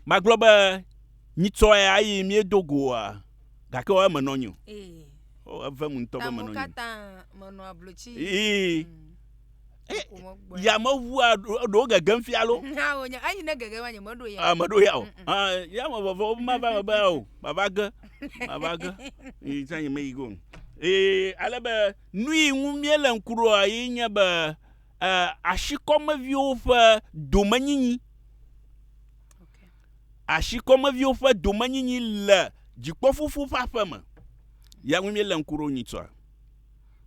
Magblɔ be, nyitsɔe ayi míedo go oa? Gake oa menɔ nyo. O, evem ŋutɔ be menɔ nyo. Menɔ ablo tsi. Ii. Mm. Yameʋua ɖewo gegem fia lo. Eyi ne gegem anye meɖo ya. Ah, meɖo ya o. Ah, yame veve wo ma va be o. Baba ge. Baba ge. Yi tsanye me yi go. Ee, ale be nu yi ŋu míele ŋku ɖoa yi nye be Ashikɔmeviwo ƒe domenyinyi. Ashikɔmeviwo ƒe domenyinyi le dzikpɔfufu ƒe aƒe me. Ya ŋu míele ŋku ɖo nyitsɔa.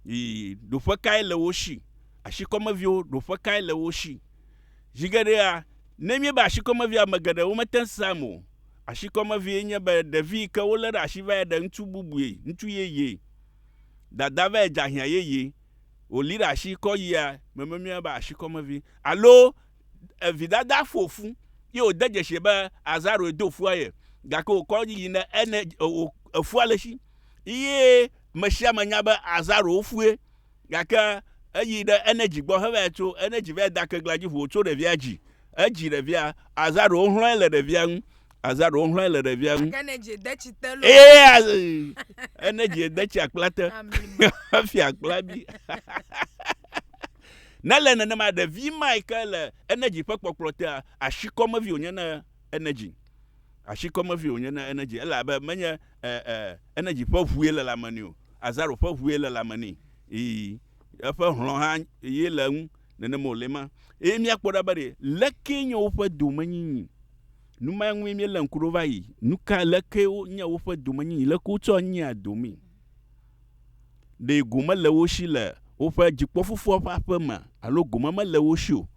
Yi ɖoƒe kae le wo si? Ashikɔmeviwo ɖoƒe kae le wo si? Zi geɖea, ne míebe ashikɔmevia, ame geɖe womete ŋu sea eme o. Ashikɔmevie nye be ɖevi yi ke wolé ɖe asi va yi ɖe ŋutsu bubue, ŋutsu yeye, dada va yi dze ahiã yeye. wòli ɖe asi kɔ yia me memie be asi kɔ mevi. Alo vidada ƒo fu ye wòde dzesi be azaroe do fua ye gake wòkɔ yi ne ene efua le esi ye mesiame nya be azaro wofue gake eyi ɖe enedzi gbɔ hevaya tso enedzi vaya da kegla dzi ʋu wòtso ɖevia dzi edzi ɖevia azaro wohlɔe le ɖevia ŋu Aza ɖo ŋlɔe le ɖevia ŋu. Ake ne dzi de tsi te lo. Eye aze ene dzi de tsi akpla te. Efi akpla bi. Ne le nenema ɖevi ma yi ke le enedzi ƒe kpɔkplɔ tea asi kɔmevi wònye ne enedzi. Asi kɔmevi wònye ne enedzi elabe menye e e enedzi ƒe ʋue le lame ni o. Aza ɖo ƒe ʋue le lame ni. Ii eƒe hlɔ̃ hã ye le ŋu. Nenema wòle ema. Eye míakpɔ ɖa be ɖe lekee nye woƒe domenyinyi. Nu ma ŋue míelé ŋku ɖo va yi. Nu ka, lekee wonye woƒe domenyinyi, lekee wotsɔ nyea domee. Ɖe gome le wo si le woƒe dzikpɔfofoa ƒe aƒe mea, alo gome mele wo si o.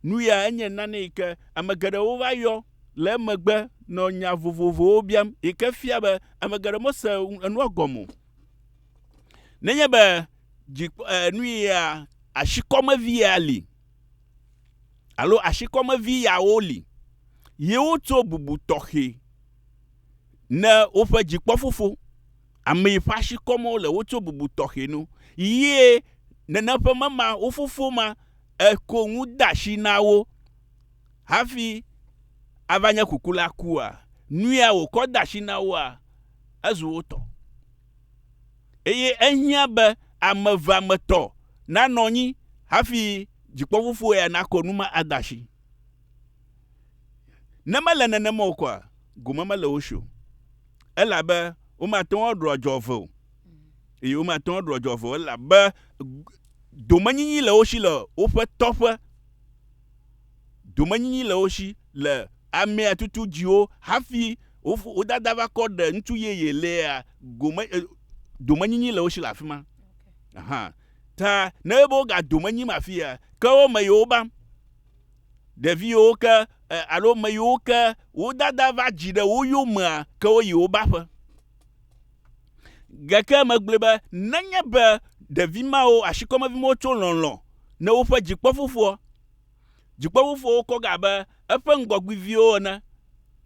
Nu ya enye nane yi ke ame geɖewo va yɔ le emegbe nɔ nya vovovowo biam yi ke fia be ame geɖe mese enua gɔme o. Nenye be dzi eh, nui ya asikɔmevi ya li alo asikɔmevi yawo li, yewo tso bubu tɔxɛ ne woƒe dzikpɔfofo. Ame yi ƒe asikɔmewo le wotso bubu tɔxɛ no. Yie nene ƒe mema wo fofo ma eko ŋu de asi na wo hafi ava nye kukula kua? Nui ya wòkɔ de asi na woa, ezu wo tɔ. eye ehiã be ame evea me tɔ nanɔ anyi hafi dzikpɔfofoa ya nakɔ nu ma ade asi. Ne mele nenema o kɔa, gome mele wo si o, elabe womate ŋu aɖu adzɔgbe o, eye womate ŋu aɖu adzɔgbe o, elabe domenyinyi le wo si le woƒe tɔƒe. domenyinyi le wo shi le amea tutu dziwo hafi wo wo dada va kɔ ɖe ŋutsu yeye lea gome e domenyinyi le wo shi le afi ma aha ta ne ebe wo ga domenyim afi ya ke wo me yewo ba ɖevi yewo ke e alo me yewo ke wo dada va dzi ɖe wo yomea ke wo yi wo ba ƒe gake megblɔe be nenye be ɖevi mawo ashikɔmevi mawo tso lɔlɔ ne woƒe dzikpɔfofoa Dzikpɔʋufowo kɔ ge abe eƒe ŋgɔgbiviwo ene,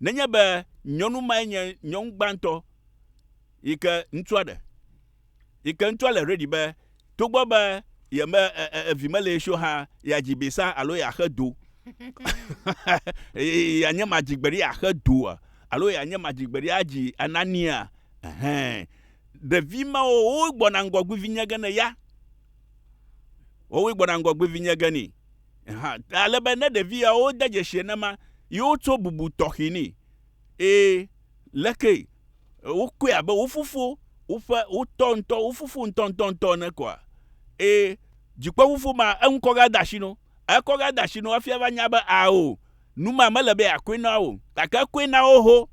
nenye be nyɔnu mae nye nyɔnu gbãtɔ yi ke ŋutsua ɖe. Yi ke ŋutsua le ready be togbɔ be ye me e, e, evi mele ye si o hã, yeadzi bisa alo yeaxe do. yeanye madzigberi axe doa? Alo yeanye madzigberi adzi anania? Ɛhɛn. Ɖevi mawo wogbɔna ŋgɔgbivi nye ge ne ya. Wowoe gbɔna ŋgɔgbe vinye ge ni. Aha, ale be ne ɖevi yawo de dzesi enema, yewo tso bubu tɔxi ni. Ee, leke wokɔe abe wo fofo, woƒe wotɔ ŋutɔ, wo fofo ŋutɔ ŋutɔ ŋutɔ ene koa? Ee, dzikpɔ fofo ma, eŋu kɔ ga de asi no. Ekɔ ga de asi no hafi ava nya be ao, nu ma mele be yeakɔe na wo, gake ekɔe na wo ho.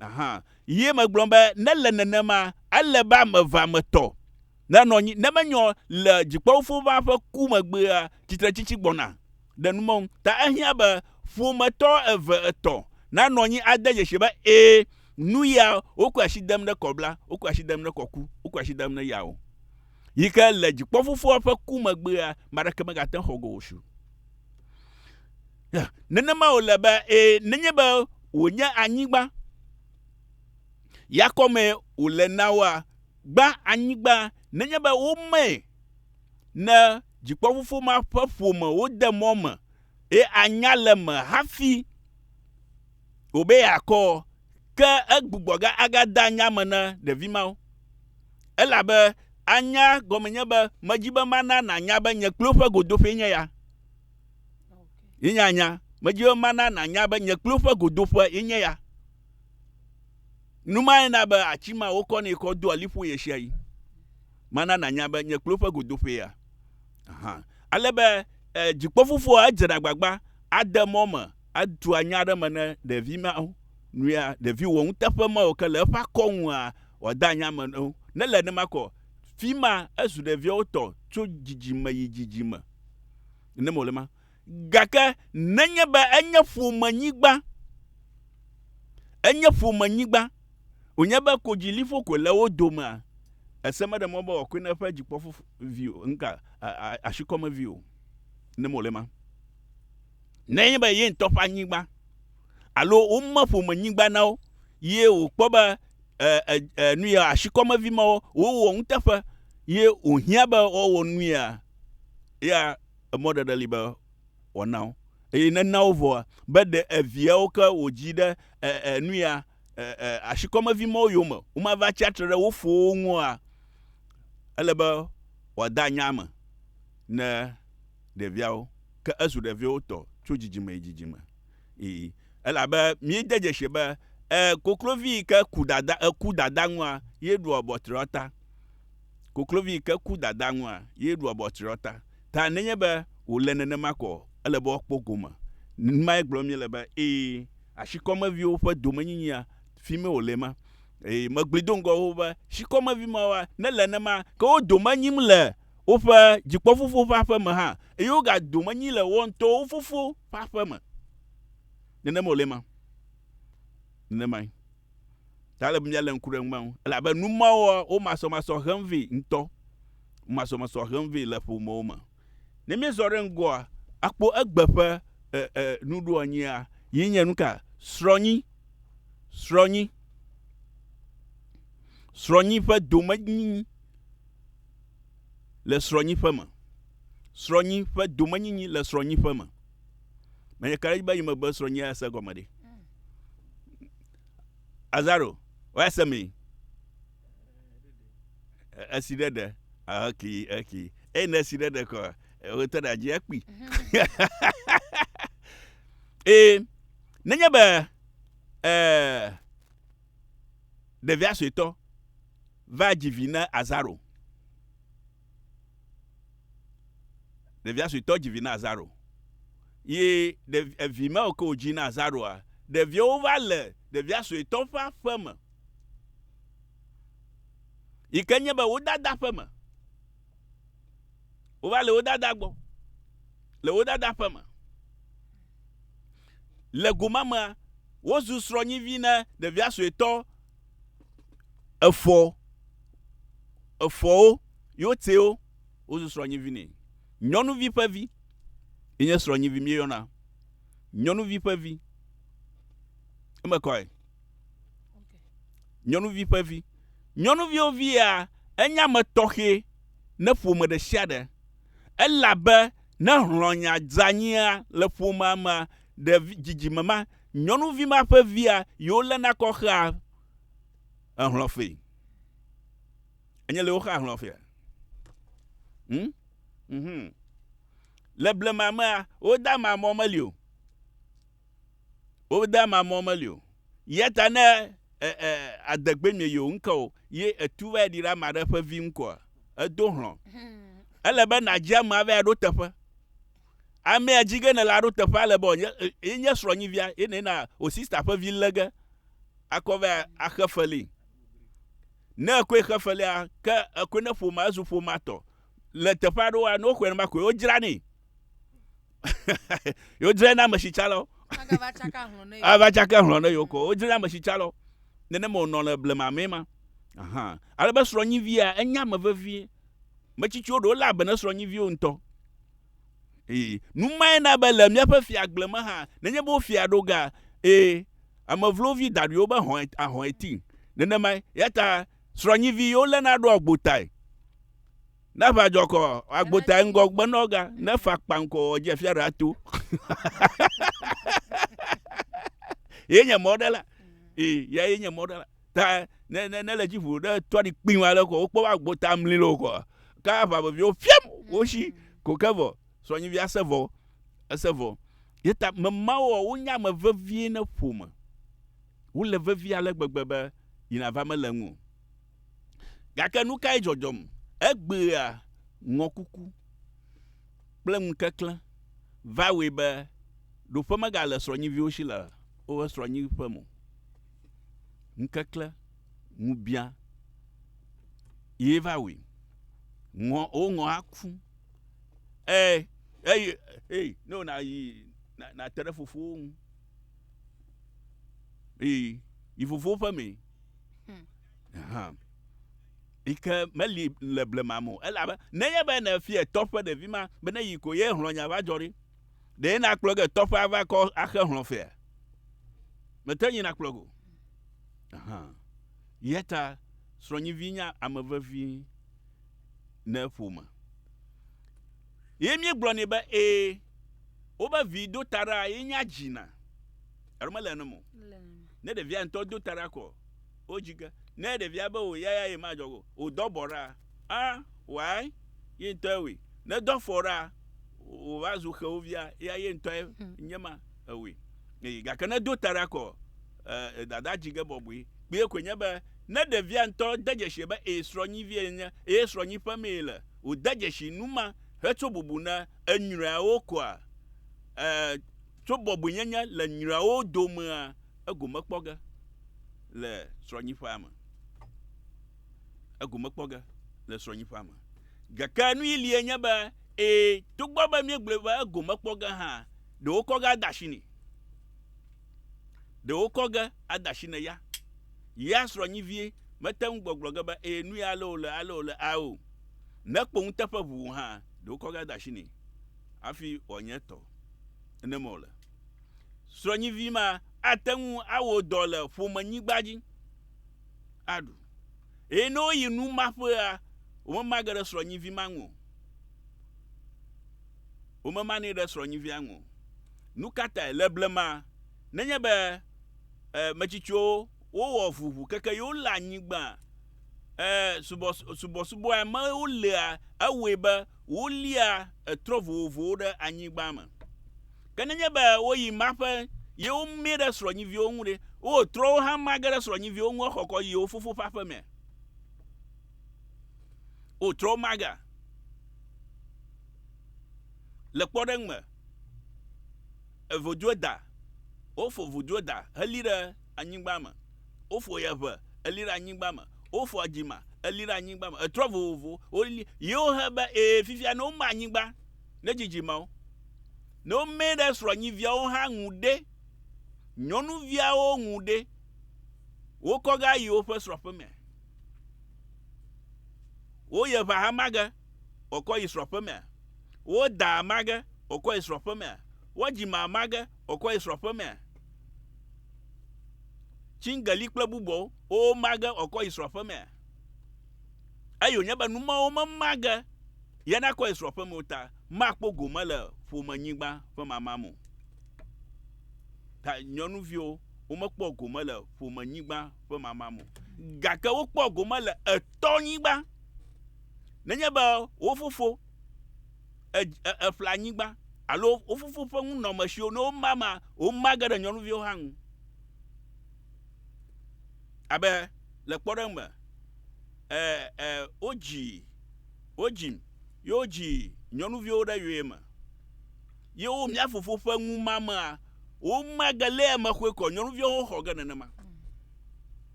Aha, ye megblɔ be ne le nenema, ele be ame eve ame tɔ. Ne nɔ nyi, ne menyɔ le dzikpɔwofowova ƒe ku megbea, tsitretsitsi gbɔna ɖe nu mɔŋ. Ta ehiã be ƒometɔ eve etɔ̃ nanɔ anyi ade dzesi be ẽ, nu ya wokɔe asi dem ɖe kɔ bla, wokɔe asi dem ɖe kɔ ku, wokɔe asi dem ɖe ya o. Yi ke le dzikpɔfofoa ƒe ku megbea, ame aɖeke megate ŋu xɔ go wòsu. Ya, nenema wòle be ẽ, nenye be wònye anyigba ya kɔmee wòle na woa, Gbã anyigba nenye be womee ne dzikpɔfofo ma ƒe ƒome wode mɔ me ye anya le eme hafi o be yeakɔ, ke egbugbɔ ge agade anya me na ɖevi mawo. Elabe anya gɔme nye be medi be mana nànya be nye kpli woƒe godoƒee nye ya. Ye nye anya. Medi be mana nànya be nye kpli woƒe godoƒe ye nye ya. Nu mae na be ati ma wokɔnɛ kɔ doa liƒo ɣesiaɣi. Mana nànya be nye kplo ƒe godoƒea. Aha. Ale be eh, dzikpɔfofoa edzena agbagba ade mɔ me atua nya aɖe me ne ɖevi mawo. Nuya ɖevi wɔ nuteƒe mawo ke le eƒe akɔ ŋua wòada anya me ne wo. Ne le nenema kɔ, fi ma ezu ɖeviawo tɔ tso dzidzime yi dzidzime. Ne mole ma, Gake nenye be enye ƒomenyigba, enye ƒomenyigba, wònye be kodziliƒo koe le wo domea, ese meɖe mɔ be wòakɔe na eƒe dzikpɔfo vi o, ŋka, ashikɔme vi o, ne mole ma. Ne enye be ye ŋutɔ ƒe anyigba, alo wome ƒomenyigba na wo, ye wòkpɔ be, e, e, e, nuya, ashikɔme vi mawo, wowɔ nuteƒe, ye wòhiã be woawɔ nuya, ya, emɔ ɖeɖe li be wòana wo. Eye ne ena wo vɔa, be ɖe eviawo ke wòdzi ɖe enuya ashikɔmevi mawo yome womava tsi atsitre ɖe wo fowo ŋua, ele be wòada nya me ne ɖeviawo. Ke ezu ɖeviwo tɔ tso dzidzime yi dzidzime. I. Elabe míede dzesi be, ẽ, koklovi yi ke ku dada, eku dada ŋua, ye ɖua ʋɔtri ɔta. Koklovi ke ku dadaa ŋua ye ɖua bɔ tsriɔ ta. Ta nenye be wòle nenema ko o, ele be woakpɔ gome. Numae gblɔm míele be, Ee, ashikɔmeviwo ƒe domenyinyia, fimee wòle ma. Eye megbli do ŋgɔ xoxo be, shikɔmevi mawoa, ne le nema, ke wo dome nyim le woƒe dzikpɔfofo ƒe aƒe me hã, eye wogadome nyi le woawo ŋutɔwo wo fofo ƒe aƒe me. Nenema wòle ma. Nenemae. Ta ele be míalé ŋku ɖe numa ŋu, elabe nu ma wɔa wo masɔmasɔ hem vɛ ŋutɔ. Wo masɔmasɔ hem vɛ le ƒomewo me. Ne míezɔ ɖe ŋgɔa, akpɔ egbe ƒe e, e, nuɖoanyia, yi nye nuka? Srɔ̃nyi. Srɔ̃nyi. Srɔ̃nyi ƒe domenyinyi le srɔ̃nyiƒe me. Srɔ̃nyi ƒe domenyinyi le srɔ̃nyiƒe me. Menye kaɖedzi be yi megbe srɔ̃nyia ese gɔme ɖe. Azaro, waya se mi. Esi ɖe ɖe. Eki, eki. Eye ne esi ɖe ɖe kɔ, wotɔ ɖe adzi ekpi. Ee, nenye be ee, ɖevia suetɔ va dzi vi na Azaro. Ɖevia suetɔ dzi vi na azaro. Ye ɖevi evi ma ke wòdzi na azaroa, ɖeviawo va le ɖevia suetɔ ƒe aƒe me. Yi ke nye be wo dada ƒe me. Wova le wo dada gbɔ. Le wo dada ƒe me. Le go ma mea, wozu srɔ̃nyivi na ɖevia suetɔ. Efɔ efɔwo yewo tɛwo wozu srɔ̃nyivi nɛ. Nyɔnuvi ƒe vi ye nye srɔ̃nyivi míeyɔna. Nyɔnuvi ƒe vi. Eme kɔe. Nyɔnuvi ƒe vi. Nyɔnuviwo vi ya enye ame tɔxɛ ne ƒome ɖe sia ɖe elabe ne hlɔ̃nya dzeanyia le ƒomea mea, ɖevi dzidzime ma Nyɔnuvi ma ƒe via yewo le na kɔ xea ehlɔ fe. Enye le wo xa ehlɔ fea. Hmm? Mhm. Le blema mea, wo da ma mɔ meli o. Wo da ma mɔ meli o. Yeta ne e, e, adegbe mie yewo ŋkɔ o, ye etu va ɖi ɖe ama ɖe ƒe vi ŋkɔa, edo hlɔ. Hmm. Ele be nadzi amea va ɖo teƒe. amea dzi ge ne la ɖo teƒe ale be wòanye e, ye nye srɔ̃nyivia ye ne na wò sista ƒe vi lé ge akɔ va axe feli. Ne ekoe xe felia, ke ekoe ne ƒomea ezu ƒomea tɔ. Le teƒe aɖewoa, ne woxɔe nenema koe wodzranee. Wodzrana ame si tsã lɔ. Agava tsaka hlɔ̃ ne yewo. Ava tsaka hlɔ̃ ne yewo kɔ. Wodzrana ame si tsã lɔ. Nenema wònɔ le blema mee ma. Ahan. Ale be srɔ̃nyivia, enya ame vevie. Metsitsiwo ɖewo léa be ne srɔ̃nyiviwo ŋutɔ. Ee, nu mae na be le míaƒe fiagble me hã, nenye be wofia ɖo ga, ee, ame vlovi daɖuiwo be hɔ̃e, ahɔ̃e ti. Nenemae, eya ta srɔ̃nyivi yiwo léna ɖoa agbotae. Ne aʋa dzɔ kɔ, agbotae ŋgɔ gbenɔ ga, ne fa kpaŋ kɔ, edze fia ɖe ato. Ye nye mɔɖela. Ee, yae nye mɔɖela. ta ne ne ne le dzi ʋu ɖe tɔɖi kpin wa lɛ ko wokpɔ wa gbo ta mli lo ko ke aʋa veviwo fiam woshi ko ke vɔ sɔnyivi ase vɔ ese vɔ ye ta memawo wonye ame vevie ne ƒome wole vevie ale gbegbe be yina va mele ŋu o gake nukae dzɔdzɔm egbea ŋɔkuku kple ŋukeklẽ va wɔe be ɖoƒe megale srɔnyiviwo shi le woƒe srɔnyi ƒe mo ŋkekle ŋubia ye va wui. Ŋɔ woŋɔ aku. E eye hey ne wona yi na na te ɖe fofowo ŋu. Eye yi fofowo ƒe mee. Hmm. Aha. Yi ke meli le blema mo elabe nenye be ne fie tɔ ƒe ɖevi ma be ne yi ko ye hlɔnya va dzɔ ɖi. Ɖe nakplɔ ge tɔƒe ava kɔ axe hlɔ̃ fea? Mete nyi nakplɔ go. Ahan. Yeta srɔ̃nyivi nya ame vevi ne ƒome. Ye mi gblɔ ni be e, wobe vi do tara ye nya dzi na. Alo mele ne mo. Ne ɖevia ŋutɔ do tara kɔ, wo dzi ge. Ne ɖevia be o yaya ye ma jɔ go, o dɔ bɔ ra. A, Why? Ye ŋutɔe wɔe. Ne dɔ fɔ ɖa, wòva zu xewovia, ya ye ŋutɔe nye ma ewɔe. Eye gake ne do ta ɖa kɔ, e, dada dzi ge bɔbɔe. Kpuie koe nye be, ne ɖevia ŋutɔ de dzesi be eye srɔ̃nyivie yenye, eye srɔ̃nyiƒe mee yele, wòde dzesi nu ma hetso bubu na enyreawo koa, e, tso bɔbɔenyenye le nyreawo domea, egome kpɔ ge le srɔ̃nyiƒea me. egome kpɔ ge le srɔ̃nyiƒea me. Gake nui lie nye be, ẽ, togbɔ be míegblɔe be egome kpɔ ge hã, ɖe wokɔ ge ade asi nɛ. Ɖe wokɔ ge ade asi na ya. Yea srɔ̃nyivie mete ŋu gbɔgblɔ ge be, ẽ, nui ale wòle, ale wòle a o. Ne kpo nuteƒe ʋu wò hã, ɖe wokɔ ge ade asi nɛ hafi wòanye etɔ. Nenema wòle. Srɔ̃nyivi ma ate ŋu awɔ dɔ le ƒomenyigba dzi. aɖu. Eye ne woyi nu ma ƒea, womemage ɖe srɔ̃nyivi ma ŋu o. Womemanɛ ɖe srɔ̃nyivia ŋu o. Nu ka tae? Le blema, nenye be e, metsitsiwo wowɔ ʋuʋu keke ye wole anyigba e, subɔ, subɔsubɔa me wolea, ewɔe be wolia etrɔ vovovowo ɖe anyigba me. Ke nenye be woyi ma ƒe ye womĩ ɖe srɔ̃nyiviwo ŋu ɖe, wowɔ trɔwo hã ma ge ɖe srɔ̃nyiviwo ŋu hexɔkɔ yi yewo fofo ƒe aƒe mea? Wowɔ trɔwo ma gea? Le kpɔɖeŋu me, evoduo da, wofɔ voduo da heli ɖe anyigba me, wofɔ ye ʋe eli ɖe anyigba me, wofɔ adzima eli ɖe anyigba me, etrɔ vovovowo woli ye wohe be ee fifia ne woma anyigba. ɖe dzidzimeawo. Ne womee ɖe srɔ̃nyiviawo hã ŋu ɖe, nyɔnuviawo ŋu ɖe, wokɔ ge ayi woƒe srɔ̃ƒemea. Woyia ʋa hama ge, wòkɔ yi srɔ̃ƒemea. Wodaa hama ge, wòkɔ yi srɔ̃ƒemea. Wodzima hama ge, wòkɔ yi srɔ̃ƒemea. Tsiŋgeli kple bubuawo, woma ge, wòkɔ yi srɔ̃ƒemea. Eye wònye be numɔwo mema ge Ye nakɔ ye srɔ̃ ƒe mo ta, makpɔ gome le ƒomenyigba ƒe mama me o. Ta nyɔnuviwo, womekpɔ gome le ƒomenyigba ƒe mama me o. Gake wokpɔ gome le etɔnyigba. Nenye be wo fofo eƒla nyigba alo wo fofo ƒe nunɔmesiwo ne woma ma, woma ge ɖe nyɔnuviwo hã ŋu. Abe le kpɔɖeŋu me, e, e, wodzi Wodzim, ye wodzi nyɔnuviwo ɖe yɔyeme. Ye wo mía fofo ƒe ŋumamea, womage lé eme xoe kɔ, nyɔnuviawo ho xɔ ge nenema.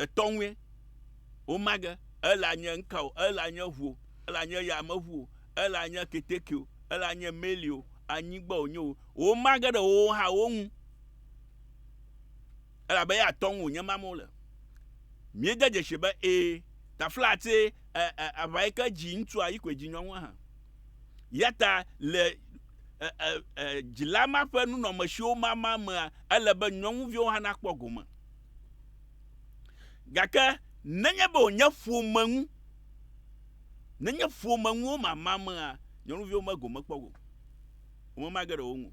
Etɔ̃ŋue, womage, ele anye ŋka o, ele anye ʋu o, ele anye yameʋu o, ele anye keteke o, ele anye meli o, anyigba wònye o, womage ɖe wowo hã wo ŋu. elabe eya tɔ ŋu wònye mam wole. Míede dzesii be, ẽ, taflatse ẽ, ẽ, aʋae ke dzi ŋutsua yi koe dzi nyɔnua hã. Eyata le ẽ, ẽ, ẽ, dzila ma ƒe nunɔamesiwo mama mea, ele be nyɔnuviwo hã nakpɔ gome. Gake nenye be wònye ƒome ŋu, nenye ƒome ŋu womama mea, nyɔnuviwo megome kpɔ o. Womema ge ɖe wo ŋu o.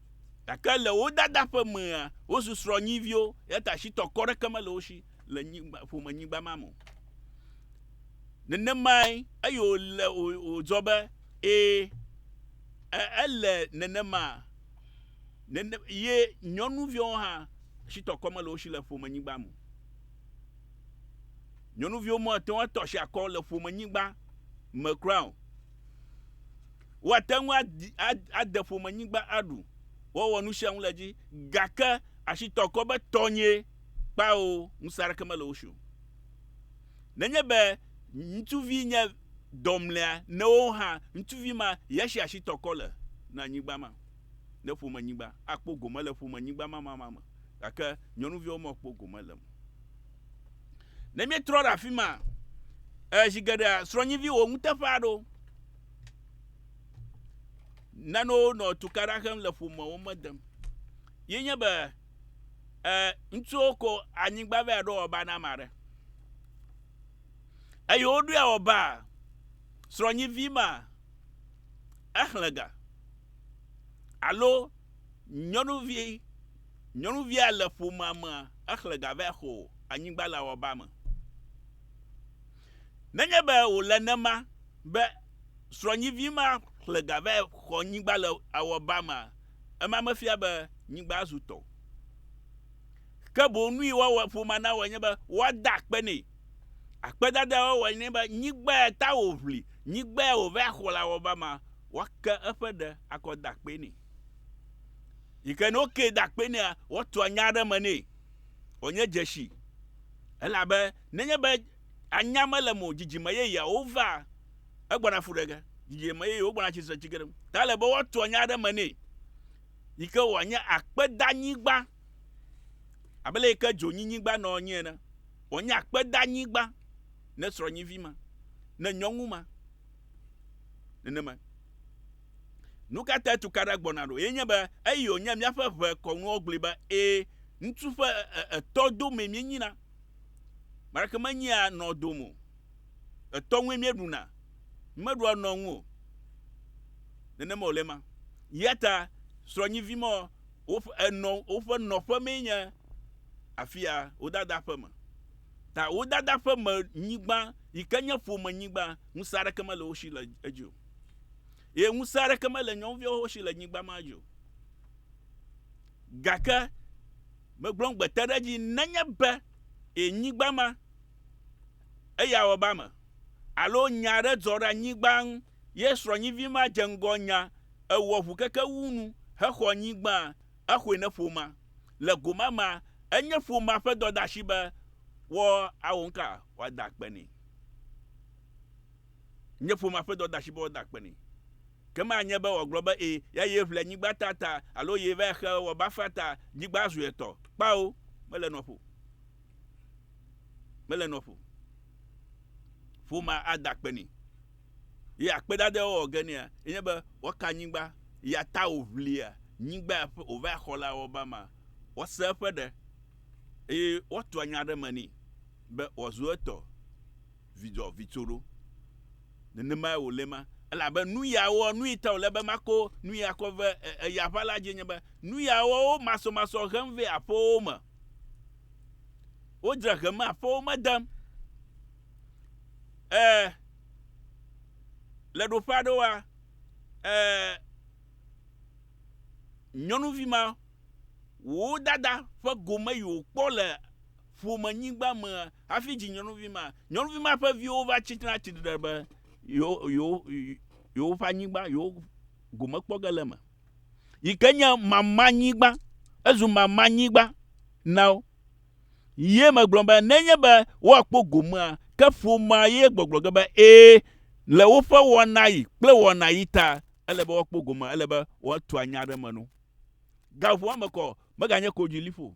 Gake le wo dada ƒe mea, wozu srɔ̃nyiviwo, eya ta shitɔ kɔ ɖeke mele wo shi le nyigba, ƒome nyigba ma me o. Nenemae, eye wòle, wòdzɔ be, ee, e, ele nenema, nene, ye nyɔnuviwo hã, shitɔ kɔ mele wo shi le ƒome nyigba me o. Nyɔnuviwo mate ŋu atɔ shi akɔ le ƒome nyigba me kura o. Woate ŋu adi, ade ƒomenyigba aɖu, woawɔ nu sia nu le edzi, gake asitɔ kɔ be tɔnyee, kpao, ŋusẽ aɖeke mele wo si o. Nenye be ŋutsuvi nye dɔmlea newo hã, ŋutsuvi ma ye si asitɔ kɔ le na nyigba ma, ne ƒomenyigba, akpɔ gome le ƒomenyigba ma ma ma me, gake nyɔnuviawo mekpɔ gome le eme o. Ne míetrɔ ɖe afi ma, e, zi geɖea srɔ̃nyivi wò nuteƒea ɖo. Nanewo nɔ tukaɖa xem le ƒomewo me dem. Ye nye be e, ŋutsuwo ko anyigba vɛ aɖo ɔba na ame aɖe. Eye woɖoe ɔba srɔ̃nyivi ma exlẽ ga alo nyɔnuvi Nyɔnuvia le ƒomea mea, exlẽ ga vae xo anyigba le awɔbaa me. Nenye be wòle nema be srɔ̃nyivi ma xlẽ ga vae xɔ anyigba le awɔbaa mea, ema mefia be nyigba zu tɔ o. Ke boŋ nui woawɔ, ƒomea nawɔe nye be woada akpe nɛ. Akpedadae woawɔe nye be nyigba ya ta wòʋli, nyigba ya wòvae xɔ le awɔbaa mea, woake eƒe ɖe akɔ ada akpee nɛ. yi ke ne wokee da akpe nea, woatua nya aɖe me nɛ wòanye dzesi. Elabe nenye be anya mele eme o, dzidzime yeyeawo va egbɔna fu ɖe ge. Dzidzime yeyewo gbɔna tsi tre tsi ge ɖe eŋu. Ta ele be woatua nya aɖe me nɛ yi ke wòanye akpedanyigba abe le yi ke dzonyinyigba nɔ anyi ene. Wòanye akpedanyigba ne srɔ̃nyivi ma, ne nyɔnu ma, nenema. Nu ka tae tukaɖa gbɔna ɖo? Enye be eyi wònye míaƒe ʋe kɔnuwɔgblɔe be, Ẽ, ŋutsu ƒe etɔ domee míenyina. Mark menyia nɔ dom o. Etɔ ŋue míeɖuna. Mímeɖua nɔ ŋu o. Nenema wòle ema. Eya ta srɔ̃nyivi mɔ woƒe enɔ, woƒe nɔƒe mee nye afia wodada ƒe me. Ta wodada ƒe me nyigba, yi ke nye ƒome nyigba, ŋusẽ aɖeke mele wo si le edzi o. Eye ŋusẽ aɖeke mele nyɔnuviawo si le nyigba ma dzi o. Gake megblɔ ŋugbete ɖe edzi nenye be e nyigba ma eya wɔ be ame alo nya aɖe dzɔ ɖe anyigba ŋu ye srɔ̃nyivi ma dze ŋgɔ nya ewɔ ʋu keke wu nu hexɔ nyigba exɔe ne ƒomea le go ma mea enye ƒomea ƒe dɔdeasi be woawɔ nu ka woada akpe nɛ nye ƒomea ƒe dɔdeasi be woada akpe nɛ. Ke manye be wòagblɔ be, Ẽ, ya ye ʋle nyigba ta ta, alo ye va xe wɔ bafa ta, nyigba zu etɔ. Kpao! Mele nɔƒo o. Mele nɔƒo o. Ƒomea ada akpe nɛ. Ye akpedada ye wowɔ ge nea, enye be woaka nyigba, ya ta wòʋlia nyigba ya ƒe, wòva xɔ le awɔba mea, woasẽ eƒe ɖe, eye woatua nya ɖe eme nɛ be wòazu etɔ. vidzɔ vitso ɖo. Nenemae wòle ma, elabe nu ya wɔ nui ta wòle be makɔ nu ya kɔ ve eya ʋã la dzie nye be, nu ya wɔ wo masɔmasɔ hem ve aƒewo me. Wodzra hem aƒewo me dem. E, le ɖoƒe aɖewoa, e, nyɔnuvi ma, wò dada ƒe gome yi wòkpɔ le ƒomenyigba me hafi dzi nyɔnuvi ma. Nyɔnuvi ma ƒe viwo va tsi trena tsi tre be yewo, yewo, yewoƒe anyigba, yewo gome kpɔ ge le eme. Yi ke nye mamanyigba. Ezu mamanyigba na wo. Ye megblɔ be nenye be woakpɔ gomea, ke ƒomea ye gbɔgblɔ ge be ẽ, le woƒe wɔnaɣi kple wɔnaɣi ta, ele be woakpɔ gomea, ele be woatu anya aɖe me no. Gaʋɔa me kɔ, meganye kodziliƒo o.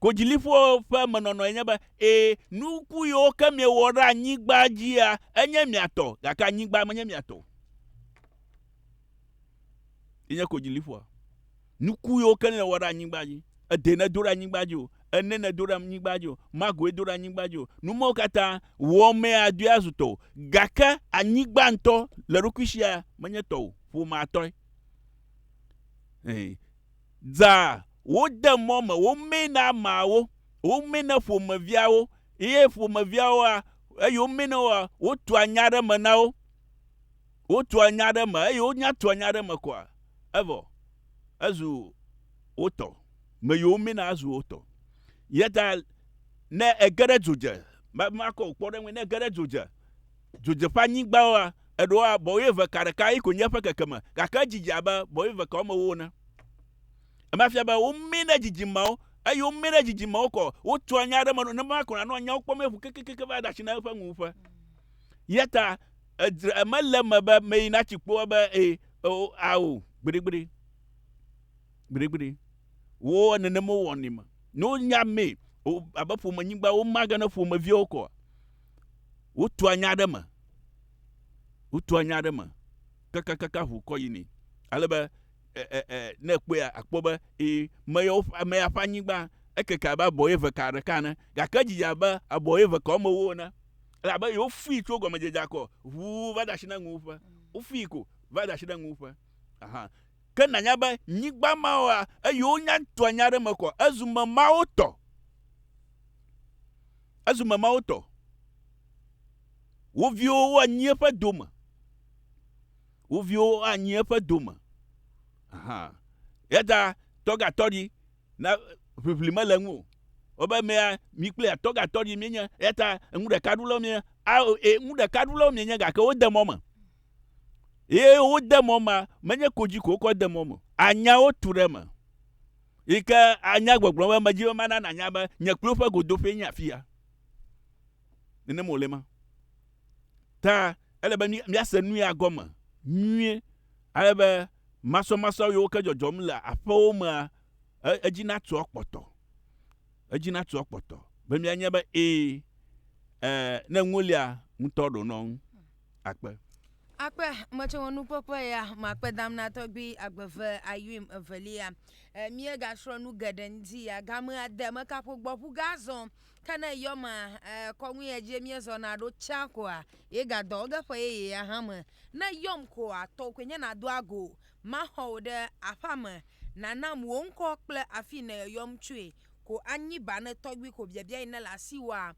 Kodziliƒoa ƒe emenɔnɔe nye be, Ẽ, nuku yiwo ke miewɔ ɖe anyigba dzia, enye mia tɔ, gake anyigba menye mia tɔ o. Ye nye kodziliƒoa. Nuku yiwo ke nèwɔ ɖe anyigba dzi, ede nèdo ɖe anyigba dzi o, ene nèdo ɖe anyigba dzi o, magoe do ɖe anyigba dzi o, nu mawo katã, wɔmee adoe azu tɔwò. Gake anyigba ŋutɔ le eɖokui sia menye tɔwò o, ƒomea tɔe. Ẽ, Dza wode mɔ me womee na ameawo, womee na ƒomeviawo eye ƒomeviawoa, eye womee na woa, wotua nya ɖe eme na wo. Wotua nya ɖe eme eye wonya tua nya ɖe eme koa, evɔ ezu wo tɔ. Me yi womee na azu wo tɔ. Eya ta ne ege ɖe dzo dze, ma, makɔ wò kpɔ ɖe eŋu, ne ege ɖe dzo dze, Dzodzeƒeanyigbawoa, eɖoa bɔwɛ eve ka ɖeka ye konye eƒe kekeme, gake edzidze abe bɔwɛ eve ka womewo ene. Ema fia be womee na dzidzimeawo, eye womee na dzidzimewo kɔ wotua nya ɖe eme nɔ nenema ko nànɔ nyawo kpɔm aƒu kekekeke va ɖe asi na eƒe nuwuƒe. Eya ta edzra emele eme be meyi natsi kpo ebe ee, oo, ao, gbeɖegbeɖe. Gbeɖegbeɖe. Wo nenema wowɔnɛ me. Ne wonya mee abe ƒomenyigba, womage na ƒomeviawo kɔ. Wotua nya ɖe eme, wotua nya ɖe eme kakakaka ŋu kɔ yinɛ. Ale be e, e, e, ne ekpɔe akpɔ be ee, meya woƒe ameya ƒe anyigba ekeke abe abɔyeve ka ɖeka ene, gake edidi abe abɔyeve ka woame ewo ene. Elabe yewofui tso gɔmedzedzea kɔ ŋu va de asi na nuwuƒe. Wofui ko va de asi na nuwuƒe. Aha. Ke nanya be nyigba mawoa, eye wonya tua nya ɖe eme kɔ, ezu memawo tɔ. Ezu me Mawu tɔ. Wo viwo anyi eƒe dome. Wo viwo anyi eƒe dome. Ahan. Yata tɔgatɔɖi na ʋiʋli mele ŋu o. Wobe mea mi kple atɔgatɔɖi mienye. Yata ŋu ɖeka ɖulawo mienye. Ao e ŋu ɖeka ɖulawo mienye gake wode mɔ me. Ye wode mɔ ma menye kodzi ko wokɔ de mɔ me. Anyawo tu ɖe eme. yi ke anya gbɔgblɔ be medzi be mana nànya be nye kplu ƒe godoƒee nye afi ya. Nenem wòle ma. Ta ele be míase nu ya gɔme nyuie ale be masɔmasɔ yiwo ke dzɔdzɔm le aƒewo mea, e, edzi natu akpɔtɔ. Edzi natu akpɔtɔ be míanya be ee, e, ne ŋulia ŋutɔ ɖo nɔ ŋu. akpe. Akpe metsewɔ nukpɔkpɔ ya makpedam na tɔgbi agbeve ayuim evelia. E, míegasrɔ̃ nu geɖe ŋdi ya game ade mekaƒo gbɔ ƒu gazɔ. Ke ne yɔma e, kɔŋui edzi míezɔna ɖo tsã koa, ye gadɔ ge ƒe yeye ya hã me. Ne yɔm koa, tɔwò koe nye nàdo ago. Maxɔ wò ɖe aƒea me. Nànam wò ŋkɔ kple afi yi nèyɔyɔm tsoe ko anyi ba ne tɔgbi ko biabiae nele asiwòa.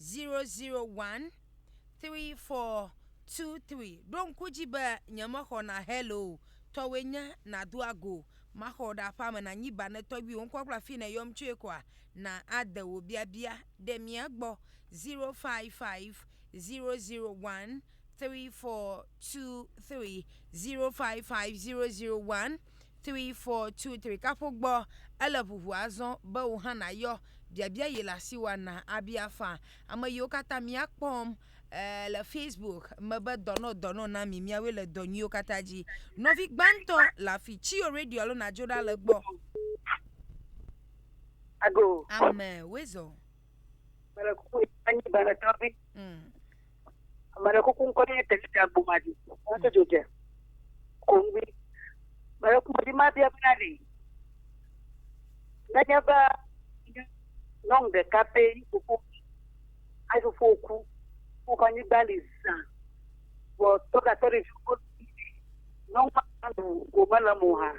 0013423. Ɖo ŋku dzi be nyemexɔ na hello tɔwoe nye nàdo ago. Maxɔ wò ɖe aƒea me nànyi ba ne tɔgbuiwò ŋkɔ kple afi nèyɔm tsoe kɔa? Na ade wò biabia ɖe mía gbɔ. 055001343. 055001343. Three, four, two, three, kaƒo gbɔ. Ele ʋuʋu azɔ be wò hã nàyɔ biabia yi le asi wɔna abia fã ame yiwo katã míakpɔm eh, le Facebook me be dɔnɔ dɔnɔ na mi, míawoe le dɔ nyuiwo katã dzi. Nɔvi gbãtɔ le afi, tsi yo radio alo nàdzo ɖa le gbɔ. Ago. Ame, woezɔ. Mele kuku yi anyi bana tɔvi. Mm. Mele kuku ŋkɔ ne te ti agbo ma di. Wo to jo je. Kongbi. Mele kuku di ma bi abana di. Ne nye ba nyɔnu ɖeka pɛ yi kuku. Ayi kuku oku. Wo fa nyi gbali sa. Wo to ka to de ju ko. Nyɔnu ma do ko mele mo ha.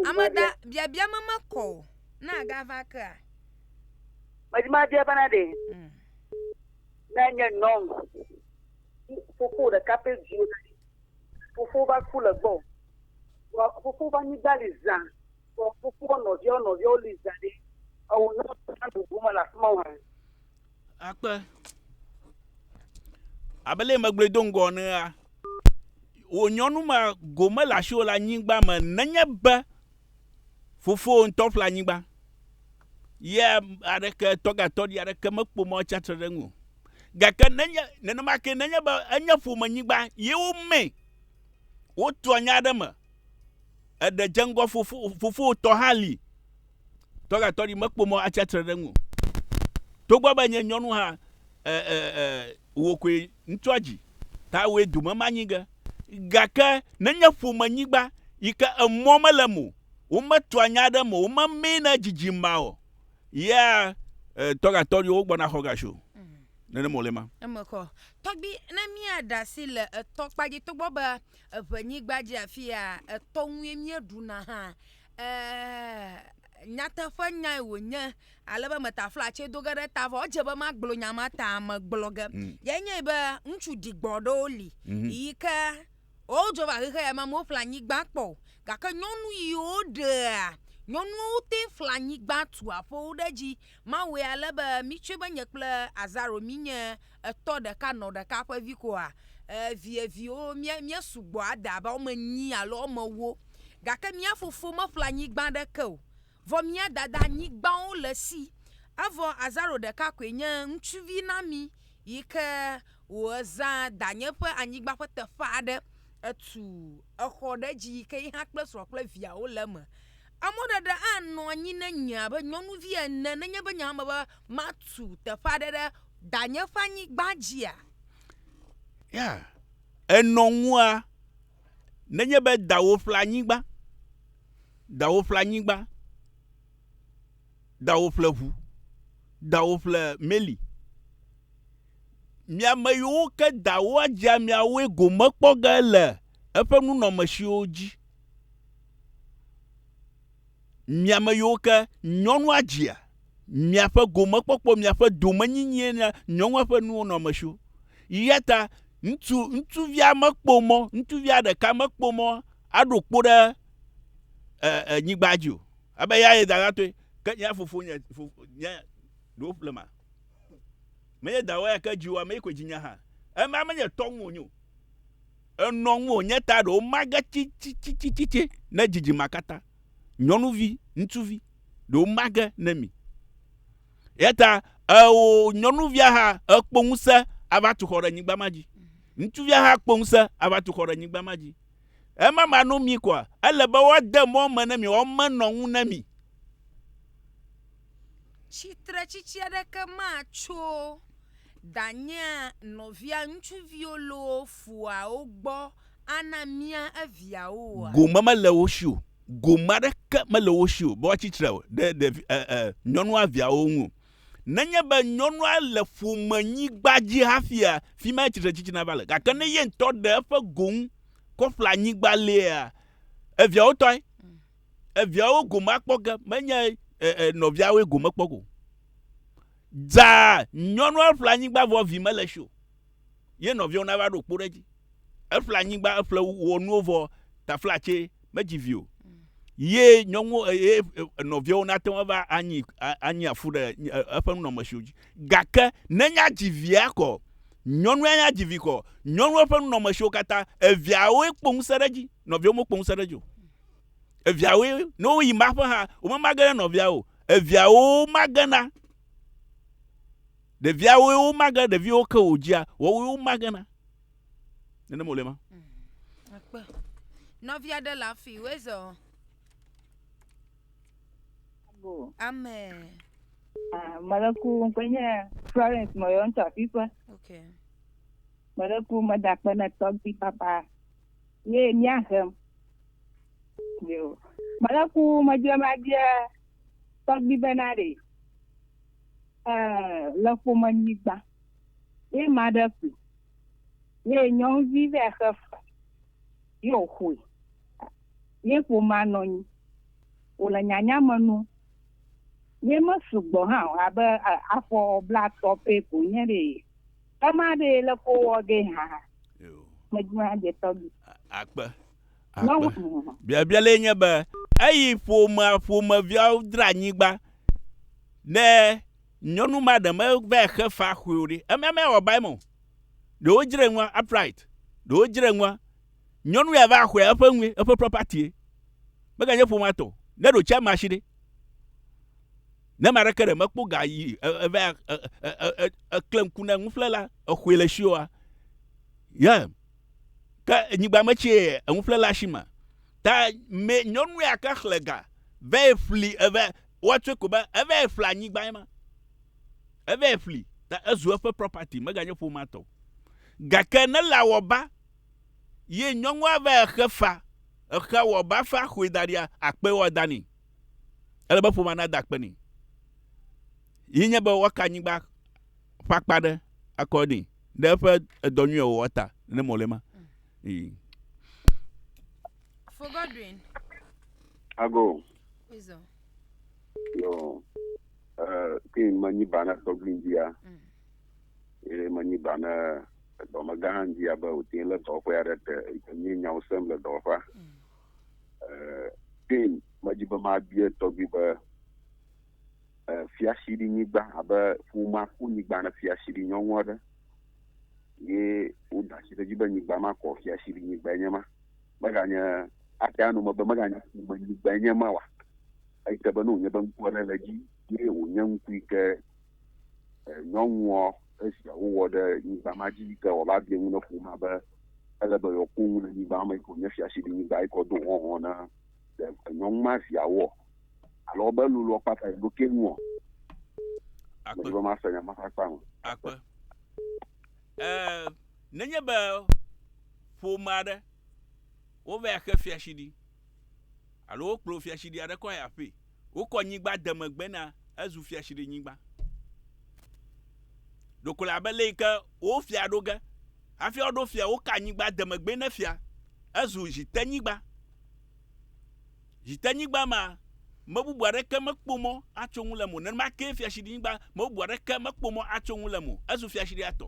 Amada biabia mama ko. Na gava kea. Medi mabia bena ɖe mm. ne nye nyɔnu fofo ɖeka ƒe viwo fofo va ku le gbɔ fofo va nyigba li zã fofo nɔviawo nɔviawo li zã ɖe ewɔ ne wona bubu me le afi ma wa. akpe abele megblɔe do ŋgɔ nea wò nyɔnu ma gome le asiwò le anyigba me nenye be Fofowò ŋutɔ ƒle anyigba, ye aɖeke, tɔgatɔɖi aɖeke mekpo mɔ tsi atsitre ɖe eŋu o. Gake nenye nenema ke nenye be enye ƒomenyigba ye womee, wotua nya aɖe me, eɖe dze ŋgɔ fofo, fofowò tɔ hã li, tɔgatɔɖi mekpo mɔ atsi atsitre ɖe eŋu o. Togbɔ be nye nyɔnu hã e, e, e, wò koe ŋutsua dzi, ta wòe dome manyi ge. Gake nenye ƒomenyigba yi ke emɔ mele eme o, wometua nya ɖe eme o, womemee na edzidzi ma o, ya eh, tɔgatɔɖiwo wogbɔna xɔ ga tso. Nenema wòle ma. Emexɔ. Tɔgbi, ne míaɖe asi le etɔ kpa dzi, togbɔ be eŋenyigba dzi afi ya etɔ ŋue míeɖuna hã, eh, nyateƒenyae wònye ale be meta flatse do ge ɖe ta vɔ edze be magblɔ nya ma ta megblɔ ge mm. ye nye be ŋutsu digbɔ ɖewo li mhm. yi ke wodzo va xexe ya me amewo ƒle anyigba kpɔ gake nyɔnu yiwo ɖea nyɔnuwo te fla anyigba tu aƒewo ɖe edzi mawɔe ale be mitsɔe be nye kple azaro minye Etɔ ɖeka nɔ ɖeka ƒe vi koa? Ɛɛ, vieviwo, míe, míesugbɔ ade abe woame enyi alo woame ewo. Gake mía fofo meƒle anyigba aɖeke o, vɔ mía dada anyigbawo le esi. Evɔ azaro ɖeka koe nye ŋutsuvi na mí yi ke wòezã danye ƒe anyigba ƒe teƒe aɖe. Etu exɔ ɖe edzi yi ke ye hã kple srɔ̃a kple viawo le eme. Emɔɖeɖe anɔ anyi ne nye abe nyɔnuvi ene nenye be nye hã mebe matu teƒe aɖe ɖe danye ƒe anyigba dzia? Ya, ènɔ ŋua nenye be dawò ƒle anyigba, dawò ƒle anyigba, dawò ƒle ʋu, dawò ƒle meli. Mia ame yiwo ke dawò adzea miawoe gome kpɔ ge le eƒe nunɔmesiwo dzi. Mi ame yiwo ke nyɔnua dzia, miaƒe gomekpɔkpɔ, miaƒe domenyinyie na nyɔnua ƒe nuwo nɔ eme tso. Eya ta ŋutsu, ŋutsuvia mekpɔ mɔ, ŋutsuvia ɖeka mekpɔ mɔ aɖo kpo ɖe e, e, nyigba dzi o. Ebe ya ye dadatɔe, ke nye fofo nye, fofo nye ɖewo ƒle ma. Menye dawɔ ya ke dzi wo, ame yi koe dzi nye hã. Ema menye tɔ ŋu wònyo. Enɔ ŋu wònye ta ɖewo mage tsi, tsi, tsi, tsi, tsi, tsi ne dzidzima katã. nyɔnuvi ŋutsuvi ɖewo mage ne mi. Yata eo nyɔnuvia hã ekpɔ ŋusẽ ava tu xɔ ɖe nyigba ma dzi. Ŋutsuvia hã kpɔ ŋusẽ ava tu xɔ ɖe nyigba ma dzi. Ema ma no mi kɔa, ele be woade mɔ me ne mi, woamenɔ ŋu ne mi. Tsitretsitsi aɖeke matso danyea nɔvia ŋutsuviwo loo foawo gbɔ ana mía eviawo oa? Gome mele wo si o. Gome aɖeke mele wo si o be woatsi tre ɖe ɖevi, e, e, nyɔnua viawo ŋu o. Nenye be nyɔnua le ƒomenyigba dzi hafia, fi mae tsitretsitsina va le. Gake ne ye ŋutɔ ɖe eƒe go ŋu kɔ ƒle anyigba liea, eviawo tɔe. Eviawo gome akpɔ ge, menye, e, e, nɔviawoe gome kpɔ o. Zãa, nyɔnua ƒle anyigba vɔ vi mele si o. ye nɔviawo nava ɖo kpo ɖe edzi. Eƒle anyigba, eƒle wɔ nuwo vɔ taflatse medzi vi o. Ye nyɔnuwo ye nɔviawo nate ŋu ava anyi anyi afu ɖe eƒe nunɔmesiwo dzi. Gake nenye adzi via kɔ, nyɔnu ya adzi vi kɔ, nyɔnua ƒe nunɔmesiwo katã eviawoe kpɔ ŋusẽ ɖe edzi, nɔviawo mekpɔ ŋusẽ ɖe edzi o. Eviawoe ne woyi maƒe hã womemage ɖe nɔvia o. Eviawo magena. Ɖevia woe womage ɖeviwo ke o dzia wɔwoe womage na. Nenem wòle ma. Akpe. Mm, Nɔvi aɖe le afi woe zɔ. Amen. Ah, Meleku ŋkpe nye Florence Mɔyɔ ŋutsu afiƒe. Okay. Meleku meda akpe ne tɔgbi papa ye míahem. Yo. Meleku medze mabia tɔgbi bena ɖe eh, le ƒome nyigba, ye ma ɖe ƒli, ye nyɔnuvi vɛ xe fe, ye o xoe, ye ƒoma nɔnyi, o le nyanya me nu, ye me sugbɔ hã o, abe afɔ bla tɔ pɛ ko nye ɖe, ema ɖe le ko wɔ ge hã, me dzi ma dze tɔgbi. Akpe. akpe. Biabia le nye be eyi ƒomea ƒomeviawo dra anyigba ne nyɔnu ma ɖe meva xe fa xɔe o ɖe emea mewɔ ba eme o. Ɖewo dzre nua upright, ɖewo dzre nua nyɔnu ya va xɔe eƒe nue eƒe property meganye ƒomea tɔ ne ɖo tsia mashi ɖe. Ne ma ɖeke ɖe mekpɔ ga yi eva ekle ŋku ne nuƒlela exɔe le shioa. Yeah. ke nyigba me tsi ye enu ƒle le asi me ta me nyɔnu ya ke xle ga ve ƒli eve woatsɔe ko be eve ƒle anyigba ye ma eve ƒli ta ezu eƒe property mega nye ƒomea tɔ gake ne la wɔ ba ye nyɔnua ve exe fa exe wɔ ba fa xoe da ɖia akpe wɔ da ni ele be ƒomea na da akpe ni yi nye be woaka nyigba ƒe akpa ɖe akɔ ni ɖe eƒe edɔ nyuia wɔwɔ ta ne mɔ le ma. Mm. For Godwin. I go. Izo. Yo. Uh, kin manyi bana soglin dia. Mm. E manyi bana dɔme gã hã dzi abe wòte le dɔwɔƒe aɖe te nye nyawo sem le dɔwɔƒea mm. eh, kin medzi be mabie tɔgbi be fiasiɖinyigba abe ƒuma ƒu nyigba ne fiasiɖi nyɔnu aɖe ye woda asi ɖe edzi be nyigba ma kɔ fiasiɖi nyigba enye ma meganye ate anu me be meganye ƒume nyigba enye ma wa eyi ke be ne wònye be ŋku aɖe le edzi ye wònye ŋku yi ke nyɔnua esia wowɔ ɖe nyigba ma dzi yi ke wòava bia ŋu ne ƒuma be ele be yewoakpɔ ŋu le nyigba me yi ke wònye fiasiɖi nyigba yi ke wodo hɔhɔ na nyɔnu ma viawoa alo wobe lulu ɔkpa ta ɖo ke ŋu o. Akpe. Medzro ma se nya ma kpakpa o. Akpe. Ɛɛ nenye be ƒome aɖe wova ya xe fiaɖyi alo wokplɔ fiaɖyi aɖe kɔ yi aƒee. Wokɔ nyigba de megbe na ezu fiaɖyi nyigba. Ɖeko le abe le yi ke wo fia ɖo ge hafi woɖo fia woka nyigba de megbe ne fia ezu zitenyigba. Dzidenyigba ma, me bubu aɖeke mekpɔ mɔ atso ŋu le mo. Nenema kee fiaɖinyigba, me bubu aɖeke mekpɔ mɔ atso ŋu le mo. Ezu fiaɖia tɔ.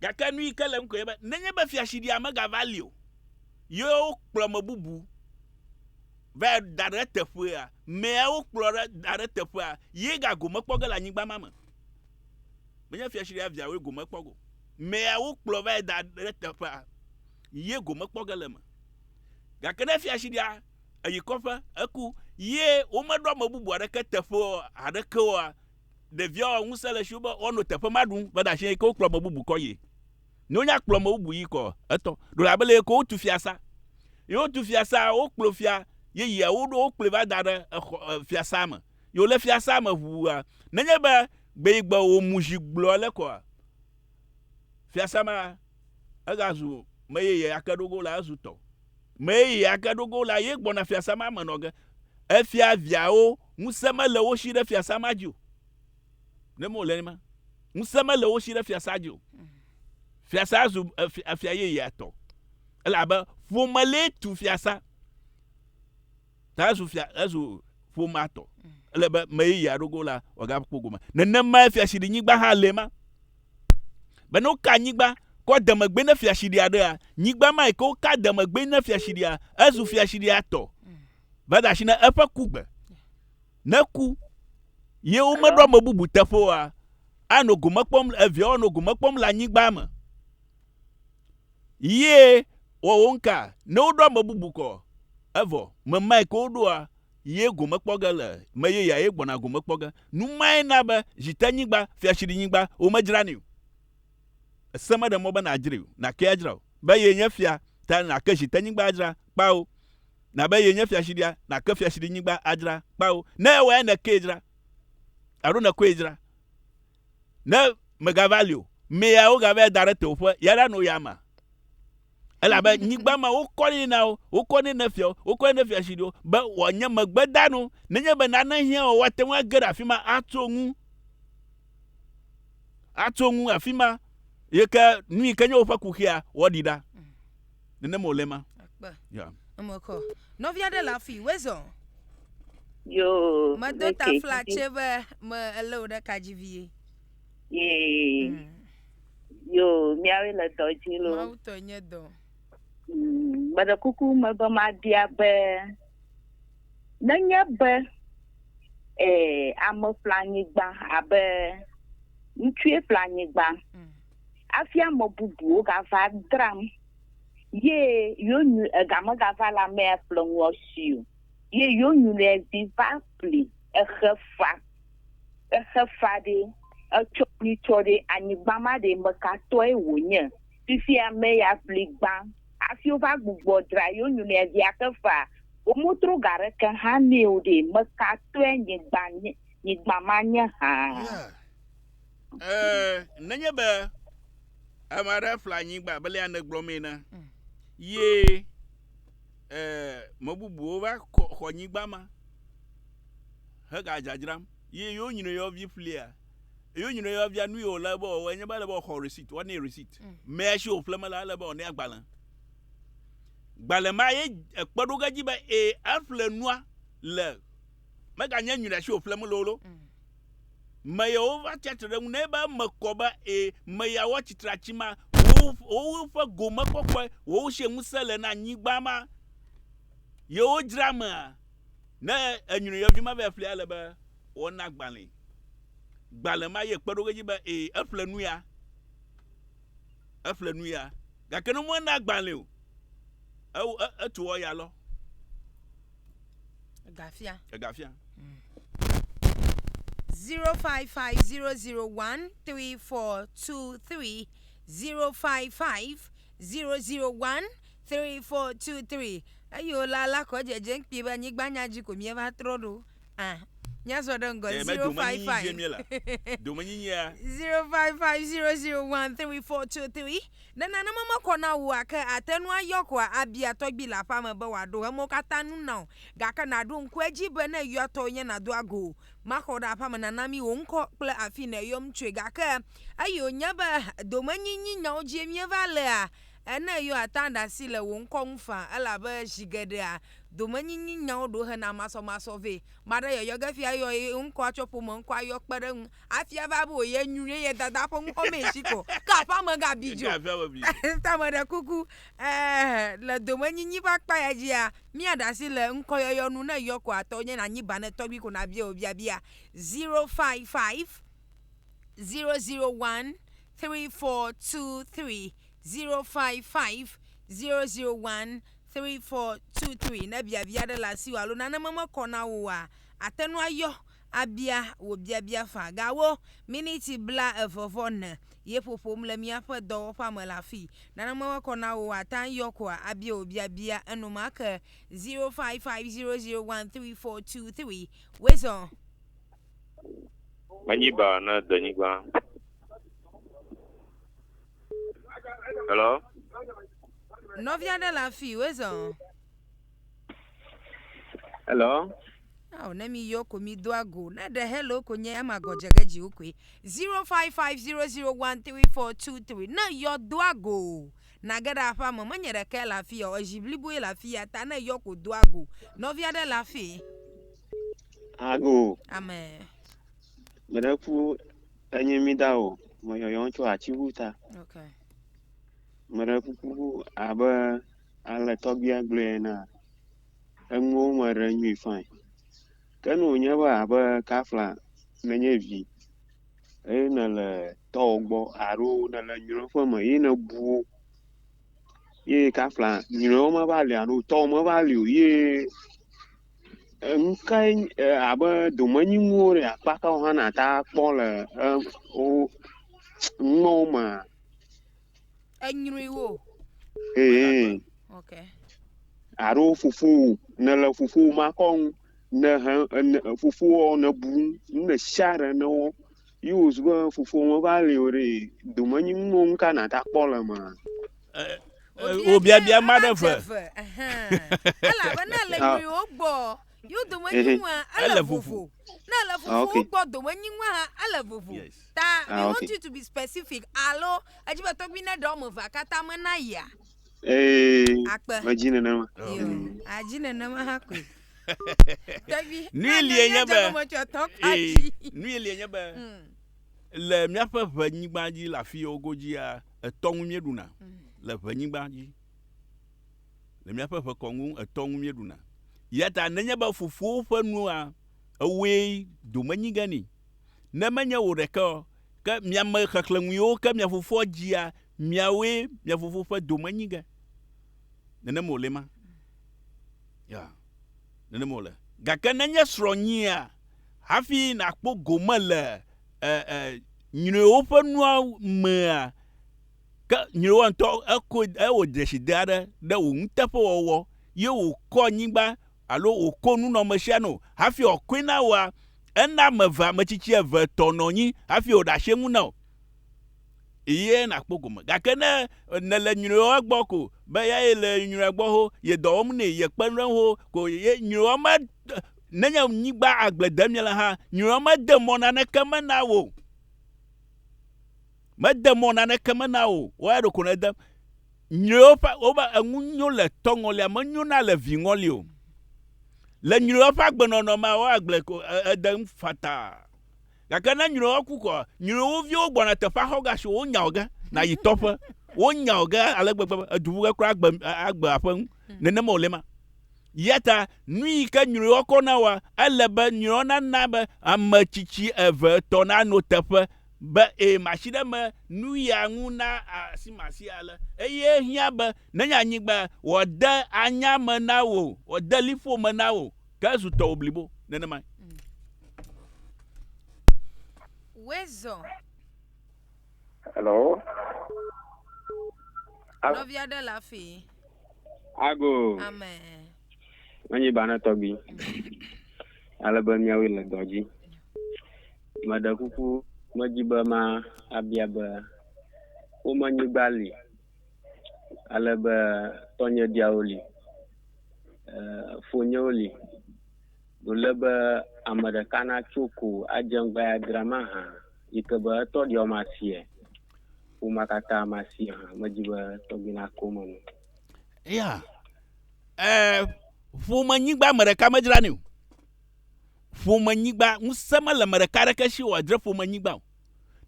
Gake nu yi ke le ŋkɔe be, nenye be fiaɖia megava li o, ye wokplɔ me bubu va da ɖe eteƒea, mea wokplɔ ɖe da ɖe eteƒea, ye gagome kpɔ ge le anyigba ma me. Menye fiaɖia viawoe gome kpɔ go. Mea wokplɔ va da ɖe eteƒea, ye gome kpɔ ge le me. Gake ne fia si ɖia, eyi kɔƒe, eku, ye womeɖo ame bubu aɖeke teƒe aɖeke oa, ɖeviawo ŋusẽ le siwo be woanɔ teƒe ma ɖum, be ɖe asi ke wokplɔ ame bubu kɔ yie. Ne wonya kplɔ ame bubu yi kɔ etɔ, ɖo abe le yeke wotu fiasa. Ye wotu fiasa, wokplɔ fia yeyea, woɖo wokplɔe va da ɖe exɔ fiasa me. Ye wole fiasa me ʋua, nenye be gbe yi gbe wòmu zi gblɔ le kɔa, fiasa ma Egazu me yeye ake ɖogo la ezu tɔ. Me yeye ake ɖogo la ye gbɔna fiasa ma me nɔ ge. Efia viawo ŋusẽ mele wo shi ɖe fiasa ma dzi o. Ne mewòle nenema, ŋusẽ mele wo shi ɖe fiasa dzi o. Fiasa zu efia yeyea tɔ. Elabe ƒome lee tu fiasa. Ta ezu fia, ezu ƒomea tɔ. Ele be meyi ya ɖogo la wòagakpɔ gome. Nenemae fiaɖinyigba hã le ma. Be ne woka nyigba kɔ demegbe ne fiaɖi aɖea, nyigba ma yi ke woka demegbe ne fiaɖia, ezu fiaɖia tɔ. Va da asi ne eƒe kugbe. Ne ku ye womeɖo ame bubu teƒe oa, anɔ gome kpɔm, eviawo anɔ gome kpɔm le anyigba me. Yie wɔ wo ŋka ne woɖo ame bubu kɔ, evɔ me mae ke woɖoa, ye gome kpɔ ge le, me ye ya ye gbɔna gome kpɔ ge. Nu mae na be Zitenyigba, Fiatsiɖinyigba, womedzranɛ o. Ese meɖe mɔ be nàdzrae o, nàke adzra o. Be ye nye fia ta nàke Zitenyigba adzra, kpao. Na be ye nye Fiatsiɖia, nàke Fiatsiɖinyigba adzra, kpao. Ne ewae nèkee dzra, alo nèkɔe dzra, Ne mègava li o, mea wogava ya da ɖe tewòƒe, ya ɖa no ya ma. Elabe nyigba ma wokɔ nɛ na wo, wokɔ nɛ ne fiawo, wokɔ nɛ ne fiaɖusiɖiwo, be wòanye megbedanu, nenye be nane hiã o, woate ŋu age ɖe afi ma atso ŋu, atso ŋu afi ma, yi ke nu yi ke nye woƒe kuxia, woaɖi ɖa. Nenem wòle ma. Akpe. Ya. Emekɔ. Nɔvi aɖe le afii. Wezɔ. Yoo. Medo tafla tse be me elé wò ɖe ka dzi vie. Yee. Mm. Yoo, miawoe le dɔ dzi lo. Mawu tɔe nye dɔ. Mm, meɖe kuku me be mabia be nenye be eh, ame ƒle anyigba abe ŋutsue ƒle anyigba. Mm. Afi ame bubuwo gava dram ye yonyu ega me gava la me ya ƒle ŋua si o. Ye yonyu le vi va ƒli exe fa. Exe fa ɖe etsɔ ŋui tsɔ ɖe anyigba ma ɖe meka tɔe wo nye. Fifi ame ya ƒli gbã afi wo va gbugbɔ dra yonyu le via xe fa. Wo mo tro ga ɖeke hã nɛ o ɖe meka tɔe nyigba nyigba ma nye hã. Ee, nenye be ame aɖe ƒle anyigba be lea nègblɔ mee na, mm. ye ee, me bubuwo va xɔ anyigba ma hegadzadzram ye yewo nyina yewovi ƒlia yewo nyina yewoavia nu yi wòle be wɔwɔ enye be ele be wɔxɔ receipt wɔnɛ receipt mm. mea si wòƒle me la ele be wɔnɛ agbalẽ gbalẽ ma ye ekpe ɖo ge dzi be ee eƒle nua le meganye nyina si wòƒle me lolo. Mm. Meya wova tsia tre ɖe eŋu nɛ be eme kɔ be e, meya woa tsitri atsi ma, wowo ƒe gome kɔkɔe, wowo sie ŋusẽ le na nyigba ma. Yewo dzra mea, ne enyri yɔvi ma vɛ ƒlia le be wɔna gbalẽ. Gbalẽ ma ye kpeɖoge dzi be e, eƒle nu ya. Eƒle nu ya, gake ne mɔe na gbalẽ o, ewo e, etu wɔ ya lɔ. Egafia. Egafia. Mm. Zero five five zero zero one three four two three zero five five zero zero one three four two three. Eyo la la kɔ dzedze ŋkpi be anyigbanya dzi ko mieva trɔ ɖo. Ah, míazɔ ɖe ŋgɔ Eye zero five medomenyinyi five. vie mie la, domenyinyia 0550013423 ne nanema mekɔ na wò ake ate nu ayɔ koa abia tɔgbi le aƒea me be wòaɖo emewo katã nu na wò gake nàɖo ŋku edzi be ne yɔa tɔwò nye nàdo ago o maxɔ ɖe aƒea me nana mí wò ŋkɔ kple afi nèyɔm tsoe gake eyi wònye be domenyinyi nyawo dzie míeva lea ene yɔa ta ɖe asi le wò ŋkɔ ŋu faa elabe zi geɖea domenyinynyawo ɖo hena masɔmasɔ vɛ. Ame aɖe yɔyɔ ge fia yɔ ye ŋkɔa tsɔ ƒome ŋkɔa yɔ kpe ɖe eŋu hafi ava be wò ye nyui ye ye dada ƒe ŋkɔ mee tsi kɔ ke aƒea me ga bi dzo. Ta meɖe kuku eeh le domenyinyi ƒe akpa ya dzia mia ɖe asi le ŋkɔ yɔyɔ nu ne eyɔ ko atɔ nye na nyi ba ne tɔgbi ko na bia wò biabia zero five five zero zero one three four two three zero five five zero zero one. 3423 Ne biabia aɖe le asiwò alo nane memekɔ na wò oa, àte ŋu ayɔ abia wò biabia faa. Gawu miniti blaeve vɔ ne ye ƒoƒom le míaƒe dɔwɔƒea me le afii. Nane memekɔ na wò oa, àte ŋu ayɔ koa abia wò biabia enumake. 0550013423 Wezɔ! Menyi baa na denyigba. Hello? Nɔvi aɖe le afi wezɔ. Hello? Aw, ne mi yɔ ko mi do ago. Ne ɖe hello ko nye ama gɔdze ge dzi wokɔe. 0550013423. Ne yɔ do ago. Na ge ɖe aƒea me menye ɖeke le afi ya o. Ezi bliboe le afi ya ta ne yɔ ko do ago. Nɔvi aɖe le afi. Ago. Amen. Mene ƒu Enye mi da o, me yɔyɔm tso atiŋu ta. Okay. Meɖe kuku abe ale tɔgbia gblɔe ena, enuwo me ɖe nyui fain. Ke nu wònye be abe kafla nenye vi eye nele tɔwo gbɔ alo nele nyɔƒe me ye nebu wo ye kafla nyɔwo meva li alo tɔwo meva li o ye Enu kae nye e abe domenyinuwo ɖe akpa ka wo hã nàte ŋu akpɔ le e wo numewo mea? Enyruiwo. Ee. Ok. Alo fofowò nèle fofowò makɔnu ne he ne fofowò nèbu nu ɖe sia ɖe ne wo. Yi wo zu be fofo me va le o ɖe dome nyi ŋu ŋu ka na ta kpɔ le ma. Wo bia bia ma ɖe ve. Elabe na le nyui wo gbɔ. Yo dome nyi ŋu ele vovo. Na le fofo wo gbɔ dome nyi ŋu ha ele vovo. Ta we want you to be specific alo edzi be tɔgbi ne ɖe ɔme va kata me na ya. Ee, Akpe. medzi nenema. Yo, Mm. adzi nenema hã koe. Tɔgbi. Nu ye lie nye be- Dzɔgɔmetsɔtɔ Ee, kpati. nu ye lie nye be Mm, le míaƒe ʋenyigba dzi le afi yiwo godzia etɔ ŋu míeɖuna mm. le ʋenyigba dzi le míaƒe ʋekɔnu etɔ ŋu míeɖuna ya ta nenye be fofowo ƒe nua ewoe dome nyi ge ni ne menye wò ɖeke o ke miame xexlẽnu yiwo ke mia fofoa dzia Miawoe mia fofo ƒe dome nyi ge. Nenem wòle ma. Ya, nenem wòle. Gake ne nye srɔ̃ nyia, hafi nàkpɔ gome le e, e, nyruiwo ƒe nua mea, ke nyruiwoa ŋutɔ eko, ewɔ dzeside aɖe ɖe wò nuteƒewɔwɔ, ye wòkɔ anyigba alo wòko nunɔmesia nɛ o, hafi wòakɔe na wòa, ena ame eve, ametsitsi eve tɔ nɔ anyi hafi wòɖe asi eŋu na wò. eye nàkpɔ gome. Gake ne nèle nyruiɔ egbɔ ko be ya ye le nyruiɔ gbɔ ho ye dɔ wɔm nɛ, ye kpenu ɖe eŋu ho ko ye nyruiɔ me nenye nyigba agble dem ye le hã, nyruiɔ mede mɔ naneke me na wò o. Mede mɔ naneke me na wò o. Wɔ eya ɖeko nedem. Nyruiɔ ƒe wobe enu nyo le tɔ ŋɔlia me nyo na le vi ŋɔli o. Le nyruiɔ ƒe agbenɔnɔ mea wɔ agble ko ede ŋu fataa. Gake ne nyrɔ̃wòa ku koa, nyrɔ̃wo viwo gbɔna teƒea xɔga si wonya wò ge nàyi tɔƒe. Wonya wò ge ale gbegbe be èdu ƒuƒe kura agbe, agbe aƒe ŋu. Nenema wòle ema. Eya ta nuyi ke nyrɔ̃wòa kɔ na wòa, ele be nyrɔ̃ nana be ame tsitsi eve, etɔ̃ nano teƒe be ee, masi ɖe eme nu ya ŋu na asimasi ale. Eye ehiã be nenye anyigba, wòade anya me na wò, wòade liƒo me na wò. Ke zu tɔwò blibo nenemae. Wezɔ. Hello. Nɔvi aɖe le afi. Ago. Amen. Menyi banɔ tɔgbi. Ale be miawoe le dɔ dzi. Meɖe kuku medzi be ma abia be wome nyigba li ale be tɔnye diawo li, fonyewo li, wòle be ame ɖeka natso ko adze ŋgba ya dra ma hã yi ke be etɔ ɖewo masiɛ, ƒomea katã masiɛ hã, medzi be tɔgbi nako eme nɛ. Ya, eh, ƒomenyigba ame ɖeka medzranɛ o. Ƒomenyigba, ŋusẽ mele ame ɖeka aɖeke si wòadzre ƒomenyigba o.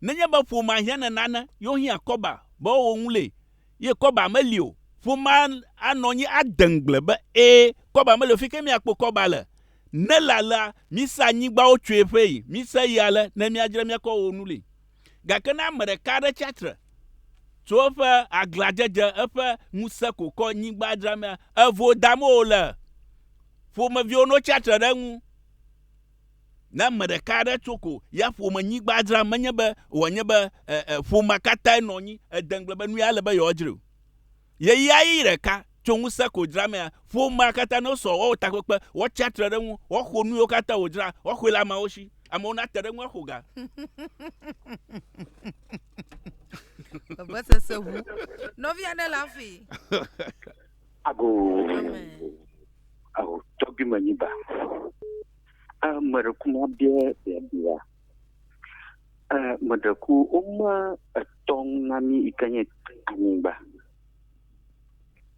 Nenye be ƒomea hiã nenane ye wohiã kɔba be woawɔ ŋulee ye kɔba meli o, ƒomea anɔ anyi ade ŋugble be, Ẽ, kɔba meli o. Fi kae míakpɔ kɔba le? Ne ele alea, mise anyigbawo tsoe ƒee. Mise yi ale ne míadzrae míakɔ awɔ ŋulee. Gake ne ame ɖeka aɖe tsi atsitre tso eƒe aglãdzedze, eƒe ŋusẽ ko kɔ nyigba dzramea, evo dame wòle. Ƒomeviwo notsi atsitre ɖe eŋu. Ne ame ɖeka aɖe tso ko ya ƒomenyigba dzram, menye be wòanye be e, e, ƒomea katãe nɔ anyi ede ŋugble be nu ya ele be yewoadzrae o. Ɣeyiɣi ɖeka tso ŋusẽ ko dzramea, ƒomea katã ne wosɔ woawɔ takpekpe, woatsi atre ɖe eŋu, woaxo nu yiwo katã wòdzra, woaxɔe le ameawo si. Amewo nate ɖe eŋu aƒo ga. Vevesese ʋu. Nɔvi aɖe le afii. Ago ago tɔgbi me nyi ba. A me ɖe kuma bia bia bia. A me ɖe ku o ma etɔn na mi ikenye anyigba.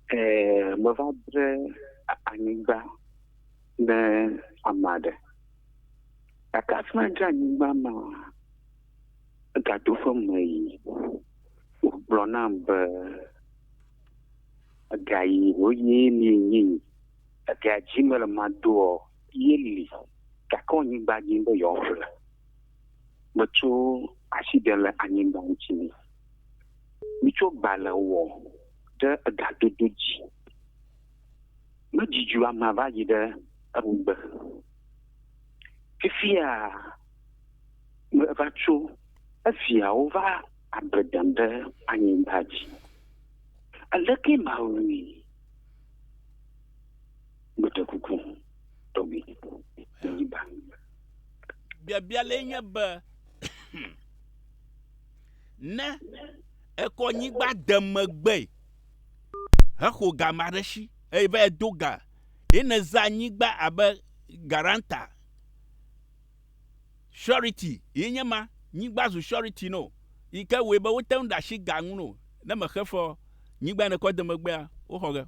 E me va dre anyigba ne ama ɖe. Kaka fina dre anyigba ma gadoƒe me yi. Gblɔ na be. Ega yi ho ye li nyi yi. Ega dzi me le ma do ɔ ye li gake ɔ nyigba dzi be yɔ ƒle. Me tso ashi ɖe le anyigba ŋtsi ni. Mi tso gba le wɔ ɖe ega dodo dzi. Me dzi dzu ama va yi ɖe eŋgbe. Fifia me va tso eviawo va Agbe dem ɖe anyigba dzi. Aleke mawui? Meɖe kuku, tɔgbi, nenyi ba. Biabia le nye be, ne ekɔ nyigba de megbe hexo ga ma ɖe si eye va do ga ye neza nyigba abe garanta Surety yi nye ma, nyigba zu surety no yi ke wɔe be wote ŋu ɖe asi ga ŋu no ne mexe fe ɔ, nyigba yi nekɔ de megbea, woxɔ ge.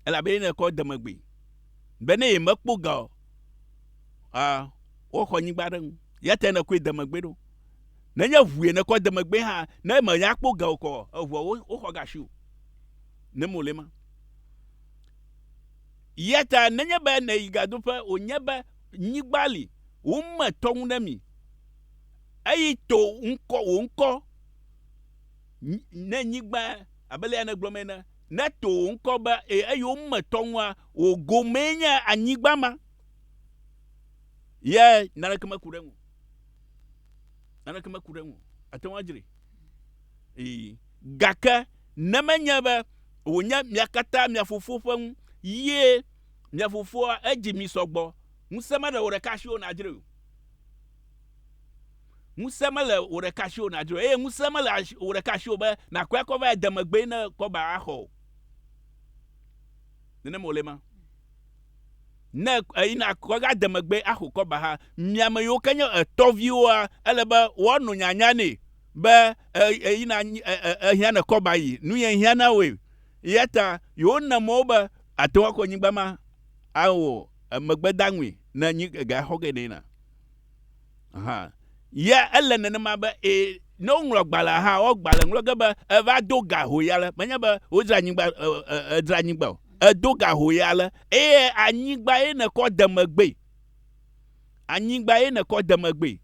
Elabe ye nekɔ de megbe. Be ne yemekpɔ ga ɔ, ɔ, woxɔ nyigba ɖe ŋu. Ya tae nekɔe de megbe ɖo. Nenye ŋu ye nekɔ de megbe hã, ne mèya kpɔ ga o kɔ ɔ, eŋua, woxɔ ga si wò. Ne mole ema. Eya ta nenye be nèyi gadoƒe wònye be nyigba li, wome tɔ ŋu ɖe mi, eye to ŋkɔ, wò ŋkɔ, ne nyigba, abe alea nègblɔm ene, ne to wò ŋkɔ be, e, eye wome tɔ ŋua, wò gomee nye anyigba ma. Ye naneke meku ɖe eŋu. Naneke meku ɖe eŋu. Àte ŋu adzrae. Ee. Gake ne menye be wònye mia katã mia fofo ƒe ŋu ye mia fofoa edzi mi sɔ gbɔ, ŋusẽ mele wò ɖeka si o nàdzroe o. Ŋusẽ mele wò ɖeka si o nàdzroe o, eye ŋusẽ mele wò ɖeka si o be nàkɔe akɔ va ede megbee ne kɔba axɔ o. Nenem wòle ema. Ne eyina kɔga de megbee axo kɔba hã, mi ame yiwo ke nye etɔviwoa, ele be woano nyanya nɛ. be eyina ehiã ne kɔ ba yi nu ye hiã na woe ya ta yewo na mɔ wo be ate ŋu akɔ nyigba ma awɔ emegbe da ŋui ne nyi ga xɔ ge ne na ha ya ele nenema be e ne wo ŋlɔ gbalẽ ha wo gbalẽ ŋlɔ ge be eva do ga ho ya le menye be wo dzra nyigba e dzra nyigba o edo ga ho ya le eye anyigba ye ne kɔ demegbe anyigba ye ne kɔ demegbe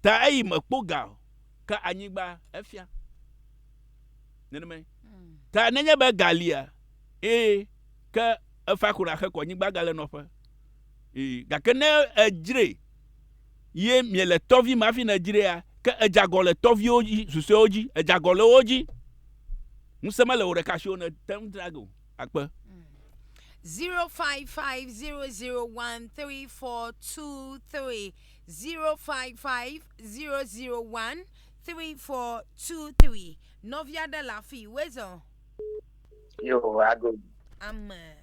Ta eyi me kpo ga ka anyigba efia. Nenema ye. Ta nenye be ga lia, ee, ke efa kura xe kɔ nyigba gale nɔƒe. Ee, gake ne edzre ye miele tɔvi me hafi ne edzrea, ke edzagɔ le tɔviwo dzi, susɔewo dzi, edzagɔ le wo dzi. Ŋusẽ mele wò ɖeka si o ne te ŋu dzra ge o. Akpe. 0550013423 05500134223. Nɔvi aɖe le afii. Wezɔ. Yo, aɖo. Ame.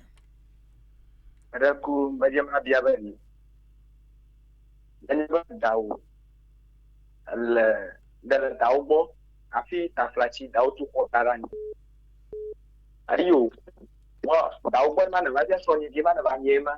Eɖe ku medze mabia be ni. Nenye be dawo le de le dawo gbɔ afi taflatsi dawo tu xɔ da ɖe anyi. Ayi o. Wɔ dawo gbɔ ma ne va bia sɔ nyi di ma ne va mie ma.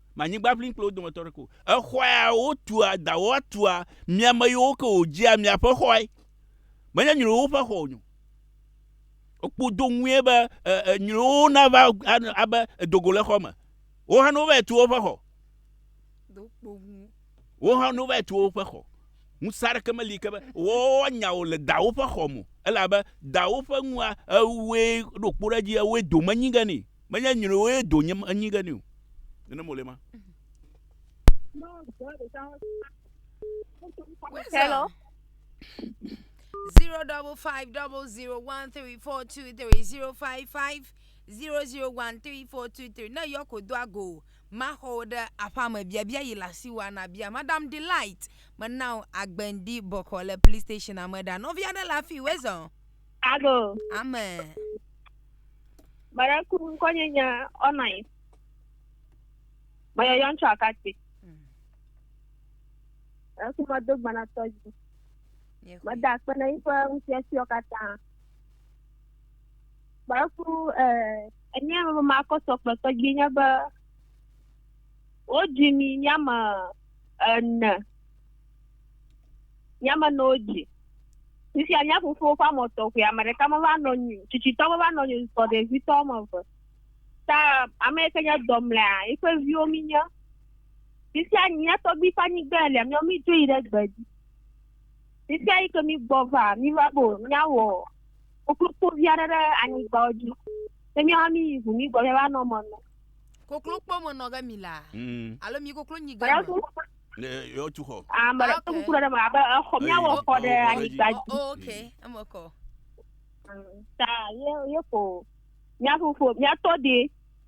Ma anyigba ʋlim kple wo dometɔ aɖeke o. Exɔa ya wotua, dawɔ atua, mi ame yiwo ke wòdzea miaƒe xɔe. Menye nyruiwo ƒe xɔ wònyo. Wokpɔ do ŋue be e, nyruiwo nava abe edo go le xɔ me. Wo hã ne wova tu woƒe xɔ. Wo hã ne wova tu woƒe xɔ. Ŋusẽ aɖeke meli ke be woanya wò le dawò ƒe xɔ me o. Elabe dawò ƒe nua, ewɔe ɖo kpo ɖe edzi, ewɔe domenyi ge nɛ. Menye nyɔnuwoe do nye anyi ɖe ni o. Nene mo le ma. Hello. Zero double five double zero one three four two three zero five five zero zero one three four two three. Ne yɔ ko do ago maxɔ wo ɖe aƒea me biabia yi le asi wa na bia madam delight mena wo agbendi bɔkɔ le police station ame ɖa nɔvi aɖe le afi wezɔ. Alo. Ame. Mara ku ŋkɔnye nye ɔnɔnyi. Meyɔ yɔn tsɔ akati. Hmm. Eku medo gbanatɔ dzi. Meda akpe na yiƒe ŋufiafiawo katã. Mara ku enye me makɔsɔ kple tɔgbi nye be wodzi mi nye ame ene. Nyama nɔ dzi. Fifia mía fofowo ƒe amɔ tɔxɛ, ame ɖeka meva nɔ nyi, tsitsitɔ meva nɔ nyi sɔ ɖevitɔ wɔme eve. Ta ame yi ke nye dɔ mlea, yi ƒe viwo mí nye. Fifia mía tɔgbui ƒe anyigba lia, míawo mí dzo yi ɖe gbe dzi. Fifia yi ke mí gbɔ va, mí va be mía wɔ koklokpo vi aɖe ɖe anyigba dzi. Ne mía hã mí yi ŋu mí gbɔ mía va nɔ me nɔ. Koklokpo me nɔ ge mí la, mm. alo mí koklo nyi ge me. Ne yewotu xɔ. Ame ɖe kuku ɖe me abe exɔ míawɔ xɔ ɖe anyigba dzi. Oh, ok, eme kɔ. Ta ye ye ko mía fofo míatɔ de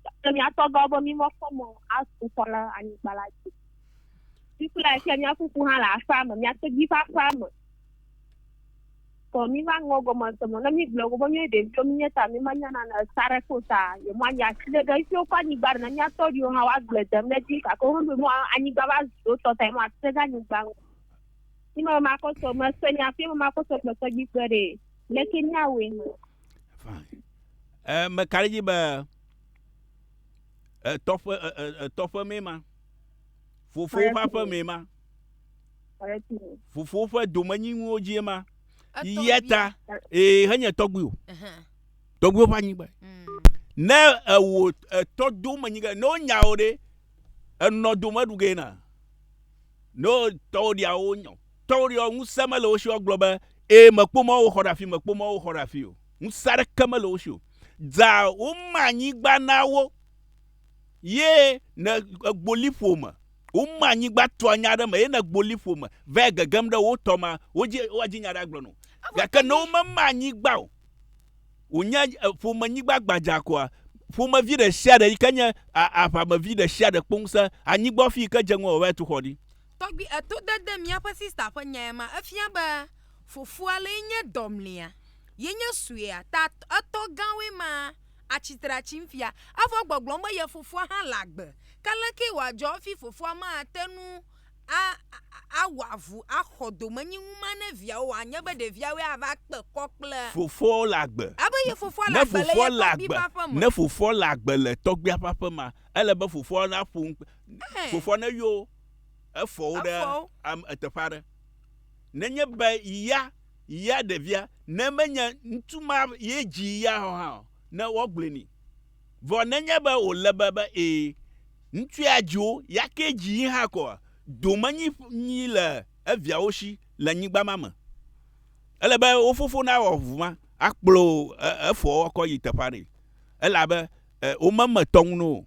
kple míatɔ gã be mí mekpɔ mɔ atu xɔ ɖe anyigba la dzi. Fi kple afia mía fofo hã le aƒea me, mía tedzi ƒe aƒea me. Vɔ míva ŋlɔ gɔme se mɔ, ne mígblɔ go be míayi ɖeviwo mínye ta mímanya nane sa ɖe kpɔ o ta, yewoanyi atsiɖe ɖe ŋsio kpɔ anyigba ɖe. Ne míatɔ ɖiwo hã, woagblɔe dem ɖe dzi. Gake woɖo mɔ anyigba va zu wo tɔ ta yewo atsiɖe ɖe anyigba ŋu. Yi me makɔ sɔ mese nya fi me makɔ sɔ gbe tɔgbi kpe ɖe. Leke míawɔe hã? Fine. E meka ɖe dzi be etɔƒe etɔƒe mee ma. Fofowo ƒe aƒe mee ma. Fofowo ƒe domenyinuwo dzie ma. Yia ta, ee, henye tɔgbuiwo. Tɔgbuiwo ƒe anyigba. Mm. Ne ewo etɔ domenyi ge, ne wonya wo ɖe, enɔ dome ɖu ge na. Ne tɔwo ɖia wo nyɔ. Tɔwo ɖia ŋusẽ mele wo si gblɔ be, ee, mekpɔ mɔ wo xɔ ɖe afi, mekpɔ mɔ wo xɔ ɖe afi o. Ŋusẽ aɖeke mele wo si o. Dza woma anyigba na wo. ye ne egbo liƒo me woma anyigba tua nya ɖe me ye ne egbo liƒo me va gegem ɖe wo tɔ ma wodzi woadzi nya ɖe agblɔ no gake ne womema anyigba o wònye ƒomenyigba gbadza koa ƒomevi ɖe sia ɖe yi ke nye aʋamevi ɖe sia ɖe kpɔ ŋusẽ anyigba fi yi ke dze ŋu wòava tu xɔ ɖi tɔgbi eto dede míaƒe sista ƒe nya ya ma efia be fofoa le nye dɔmlia ye nye suea ta etɔ gãwoe ma atsi tre atsi ŋfia, evɔ gbɔgblɔm be ye fofoa hã le agbe. Ke lekee wòadzɔ hafi fofoa mate ŋu a, a, awɔ avu axɔ domenyinu ma ne viawo o, anye be ɖeviawoe ava kpe kɔ kple. Fofoawo le agbe. Ebe ye fofoa le Ne agbe le fofoa ye le tɔgbui agbe, ƒe aƒe me. ne fofoa le agbe le tɔgbuia ƒe aƒe mea, ele be fofoa naƒo nu kpe, Ɛhɛ. fofoa neyɔ efɔwo ɖe Efɔwo. am, eteƒe aɖe. Nenye be ya. ya ɖevia, ne menye ŋutsu ma ye dzii ya o hã o, ne woagblɔe nɛ. Vɔ nenye be wòle be be ee, ŋutsu ya dzi wo, ya kee dzii hã koa, domenyinyi le eviawo shi le nyigba ma me. Ele be wo fofo nawɔ ŋu ma akplɔ efoawo akɔ yi teƒe aɖee, elabe womeme tɔŋu na wo o.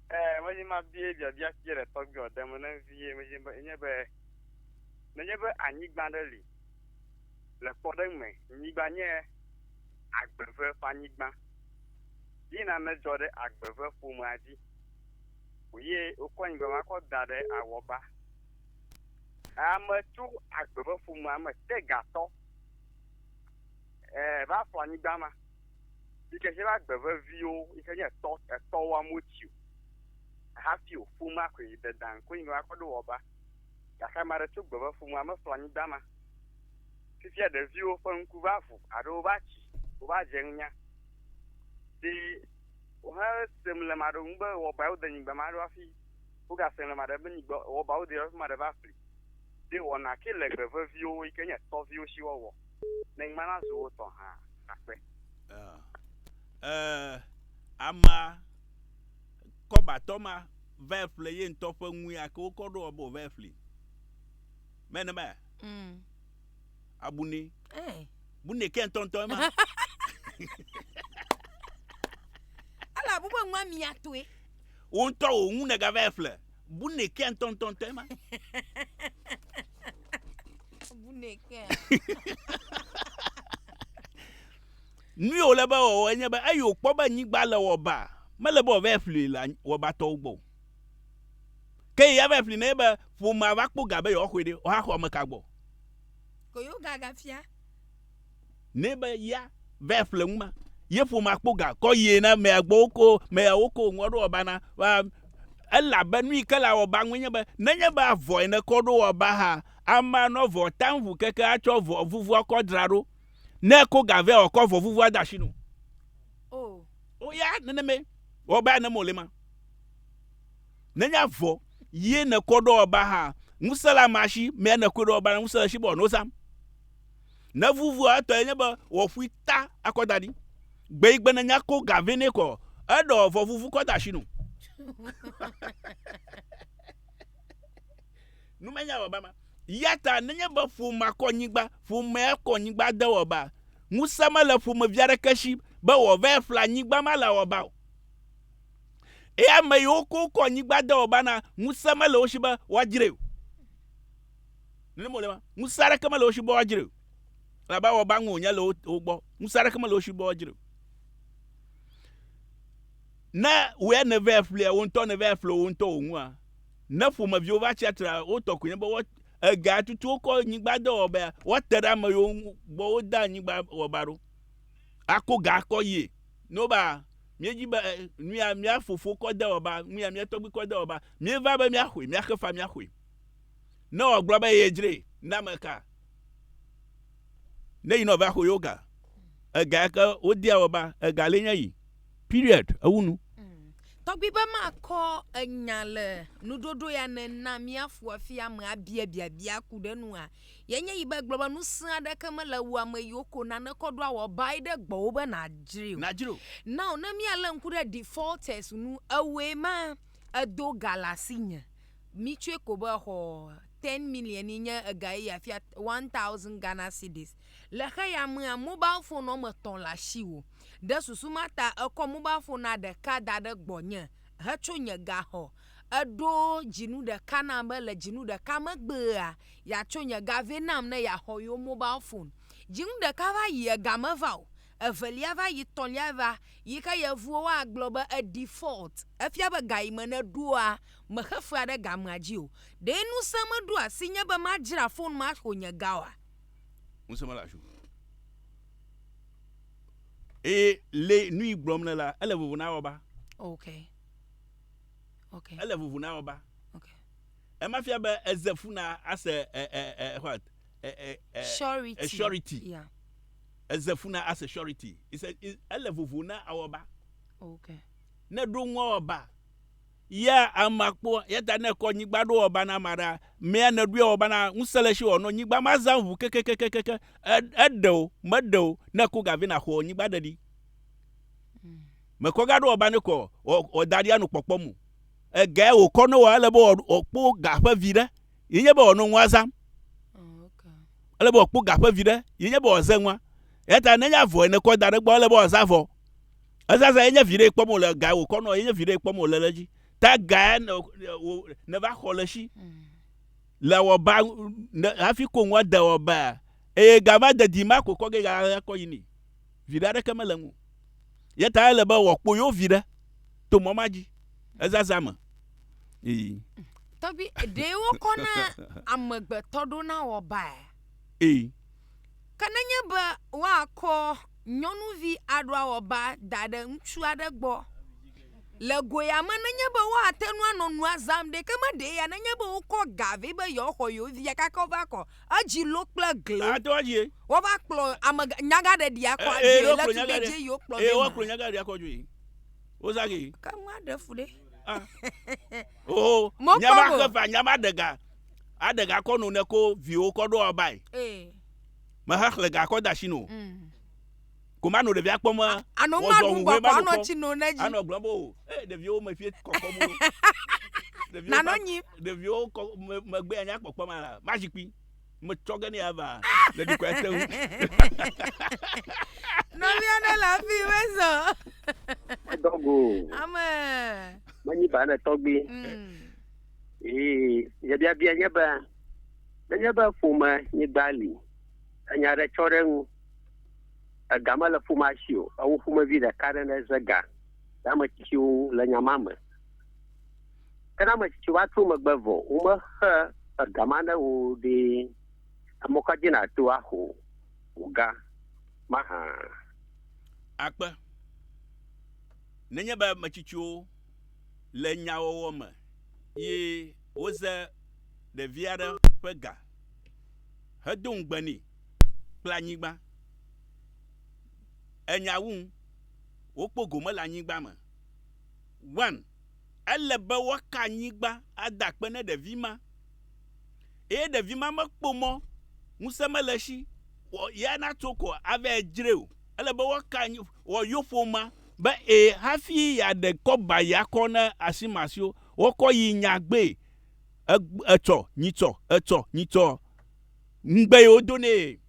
Ɛɛ, medzi be mabie biabia ci le tɔgbuiwòa ɖem ne vie, medzi be enye be, nenye be anyigba ɖe li, le kpɔɖeŋu me, nyigba nye agbeve ƒe anyigba, ye na nedzɔ ɖe agbeve ƒomea dzi o ye wokɔ nyigba ma kɔ da ɖe awɔba. Ame tso agbeve ƒomea me te gatɔ ɛɛ va fɔ anyigba ma. Ŋkeke la gbe veviwo yi ke nye etɔ etɔ wa motsi o hafi o ƒomea koe yi de dan koe yi nɔa kɔ ɖo wɔ ba. Gake ame aɖe tso gbe be ƒomea me ƒle anyi dama. Fifia ɖeviwo ƒe ŋku va ʋu alo wova tsi wova dze nunya. Ɖi wohe se mlema ɖe ŋu be wɔ ba yewo de nyigba ma ɖo hafi woga se mlema ɖe be nyigba wɔ ba wo de yewo hafi ma ɖe va ƒli. Ɖi wɔna ke le gbe veviwo yi ke nye etɔ viwo si wɔwɔ. Ne ŋmɛ la zu wo tɔ hã akpe. Ee, amea, kɔbatɔ ma, vae ƒle ye ŋutɔ ƒe ŋui ake wokɔ ɖo abo vae ƒli. Mɛ ne mɛ. Mm. Abuni. Eh. Buni ke ŋutɔ ŋutɔ ema. Ala bube ŋua mia toe. Wo ŋutɔ wo ŋu ne gavae ƒle. Bune kea ntɔntɔn tɛ ma. Bune kea. Nu yi wòle be wɔwɔ enye be eyi wòkpɔ be nyigba le wɔba mele be wòava ƒli le wɔbatɔwo gbɔ o. Ke yi ava ƒli ne be ƒomea va kpɔ ga be yewoaxɔe ɖe woaxɔ ame ka gbɔ. Ko yewo gagafia. Nɛ be ya vɛ ƒle ŋuma, ye ƒoma kpo ga kɔ yie na mea gbɔ woko mea woko ŋua ɖo wɔba na wa elabe nu yi ke la wɔba ŋue nye be nenye be avɔe ne kɔ ɖo wɔba ha ama nɔ vɔ ta ŋu keke atsɔ vɔ vuvua kɔ dra ɖo ne ko ga vɛ ɔkɔ vɔ vuvua da shi no o o ya nene me wɔba ne mo le ma nenye avɔ yie ne kɔ ɖo wɔba ha ŋuse la ma shi mea ne kɔ ɖo wɔba na ŋuse le shi bɔ no zam. Ne vuvua etɔ enye be wɔƒui ta akɔ da ɖi. Gbe yi gbe ne nya ko ga vɛ ne kɔ, eɖɔ vɔ vuvu kɔ da shi nu. Nu menya wɔ ba ma. Yata ne nye be ƒomea kɔ nyigba, ƒomea kɔ nyigba de wɔ ba. Ŋusẽ me le ƒome via ɖe ke shi be wɔ vɛ fla nyigba ma le wɔ ba o. Eye ame yi wo ko kɔ nyigba de wɔ ba na, ŋusẽ me le wo shi be woa djre o. Nene mole ma. Ŋusẽ aɖeke mele wo si be woadzre o. Elabe awɔ be aŋe wònye le wo, wo gbɔ. Ŋusẽ aɖeke mele wo si be woadzre o. Ne wòe nèvɛ ƒlia wò ŋutɔ, nèvɛ ƒle wò ŋutɔ wò ŋua, ne ƒomeviwo va tsia tre la, wo tɔ koe nye be woa, ege atutu wo kɔ nyigbadɔwɔbea, woate ɖe ame yiwo ŋu gbɔ wodea nyigbawɔbea ɖo, ako ga akɔ yie. Ne wobe a, míedi be e, nuya mía fofowo kɔ de wɔbea, nuya mía tɔgbui kɔ de wɔbea, míeva be míaxɔe, míaxe fa míaxɔe. Ne wòagblɔ be yedzre na ame ka? Ne yinɔ va xo yoga. Ega yake wodea wɔ ba, ega le nye yi. Period. Ewu nu. Mm. Tɔgbi be makɔ enya le nuɖoɖo ya ne na míafu afi ame abia biabia ku ɖe nua. Yenye yi be gblɔ be nusẽ aɖeke mele wu ame yiwo ko nane kɔ ɖo awɔ bae ɖe gbɔwò be nàdzri o. Nàdzri o. Now ne míalé ŋku ɖe defaulters nu, ewɔe ma edo ga le asinye. Mi tsɔe ko be exɔ ten million yi nye ega eye afia one thousand Ghana cedis. Le xeya mea, mobal fon wɔme tɔ̃ le asiwò. Ɖe susu ma ta èkɔ mobal fonua ɖeka da ɖe gbɔnye hetso nye gaxɔ. Èɖo dzinu ɖeka nam be le dzinu ɖeka megbea, yeatso nye ga vɛ nam ne yeaxɔ yewo mobal fon. Dzinu ɖeka va yi, ega meva o. evelia va yi tɔ̃lia va yi ke yevuwo wa gblɔ be e default efia be ga yi me ne ɖoa me xe fea ɖe gamea dzi o ɖee nusẽ me ɖo asi nye be ma dzra phone ma xo nye ga oa? Ŋusẽ mele asi o eye le nuyi gblɔm le la ele vovo na wɔba. Ok. Ok. Ele vovo na wɔba. Ok. Ema fia be eze fu na ase e e e what? E e e surety. E surety. Yeah. Eze fu na ase surety is a is ele vovo na awɔba. Okay. Ne ɖo ŋua wɔba. Ya ama kpɔ ya ta ne kɔ nyigba ɖo wɔba na ma ɖa mea ne ɖo wɔba na ŋusẽ le shi wɔ no nyigba ma zã ŋu kekekekeke eɖe o me ɖe o ne ko gavi na xɔ nyigba ɖe ɖi. Mm. Me kɔ ga ɖo wɔba ne kɔ o da ɖi anu kpɔkpɔ mu. Ege o kɔ no wa ele bo o kpo ga ƒe vi ɖe ye nye be wòanɔ ŋua zãm. Ele be wòakpɔ ga ƒe viɖe, ye nye be wòaze ŋua. Eya ta nenye avɔ ene kɔ da ɖe gbɔ, ele be wòaza avɔ. Ezazã ye nye viɖee kpɔm wòle, ga wòkɔ nɔ ye nye viɖee kpɔm wòle ɖe edzi. Ta ga ya ne wò ne va xɔ le esi le awɔba ne hafi ko ŋua de awɔbaa eye ga ma de di ma ko kɔ ge ga kɔ yi ni. viɖe aɖeke mele eŋu. Ye ta ele be wòakpɔ yewo viɖe to mɔ ma dzi, ezazã me. Ii. Tɔgbi, ɖe wokɔ na amegbetɔ ɖo na wɔbae. Ii. Ke nenye be woakɔ nyɔnuvi aɖo awɔba da ɖe ŋutsu aɖe gbɔ le goya me nenye be woate ŋu anɔ nua zãm ɖe, ke meɖee ya nenye be wokɔ ga vɛ be yewoaxɔ yewo via gake wova kɔ Edzi lo kple gliwo. Ato adzi. Woƒe akplɔ ame nyagaɖeɖi akɔ adzi. Eye wokplɔ nyagaɖe. Eye wokplɔ nyagaɖe. Eye wokplɔ nyagaɖe akɔ adzi. Wozagi. Ke nu aɖe fu ɖe. Ah. Oh. Mokpɔ. Nyama ke va nyama ɖega. Aɖega kɔ nu ne ko viwo kɔ ɖo abae. Ee. Mehe xlẽ ga kɔ da si no. Mm. Ano ma ɖum bɔ kɔ anɔ tsi no ne dzi. Anɔ gblɔm bo o. Ee ɖeviwo me fie kɔkɔ mo. Nanɔ nyi. Ɖeviwo kɔ me megbe anya kpɔkpɔ ma la ma zikpui. Me tsɔ ge ne ya va. Le dukɔ ya te ŋu. Nɔvia ne la fi we zɔ. Dɔgo. Ame. Manyi ba ne tɔgbi. Mm. Ee, ye bia bia nye ba. Nenye ba fo ma nyi bali. Anya re tsɔ re ŋu. Ega mele ƒomea si o. Ewo ƒomevi ɖeka ɖe ne ze ga le ame tsitsiwo ŋu le nya ma me. Ke ne ame tsitsiwo va tro megbe vɔ, womexe ega ma ne wò o ɖe, emɔ ka dzi nàto axo wò ga ma hã? Akpe. Nenye be ame tsitsiwo le nyawɔwɔ me ye woze ɖevi aɖe ƒe ga hedo ŋugbe nɛ, kple anyigba. Enya wum. Wokpɔ gome le anyigba me. One, ele be woaka anyigba ada akpe ne ɖevi ma. Eye ɖevi ma mekpɔ mɔ ŋusẽ mele esi wɔ ya natso ko ava edzrae o. Ele be woaka anyi wɔ yewo ƒomea be e hafi yeaɖe kɔba ya kɔ ne asimasiwo. Wokɔ yi nyagbee. Etsɔ, nyitsɔ, etsɔ, nyitsɔ. Ŋugbe ye wodo nɛ.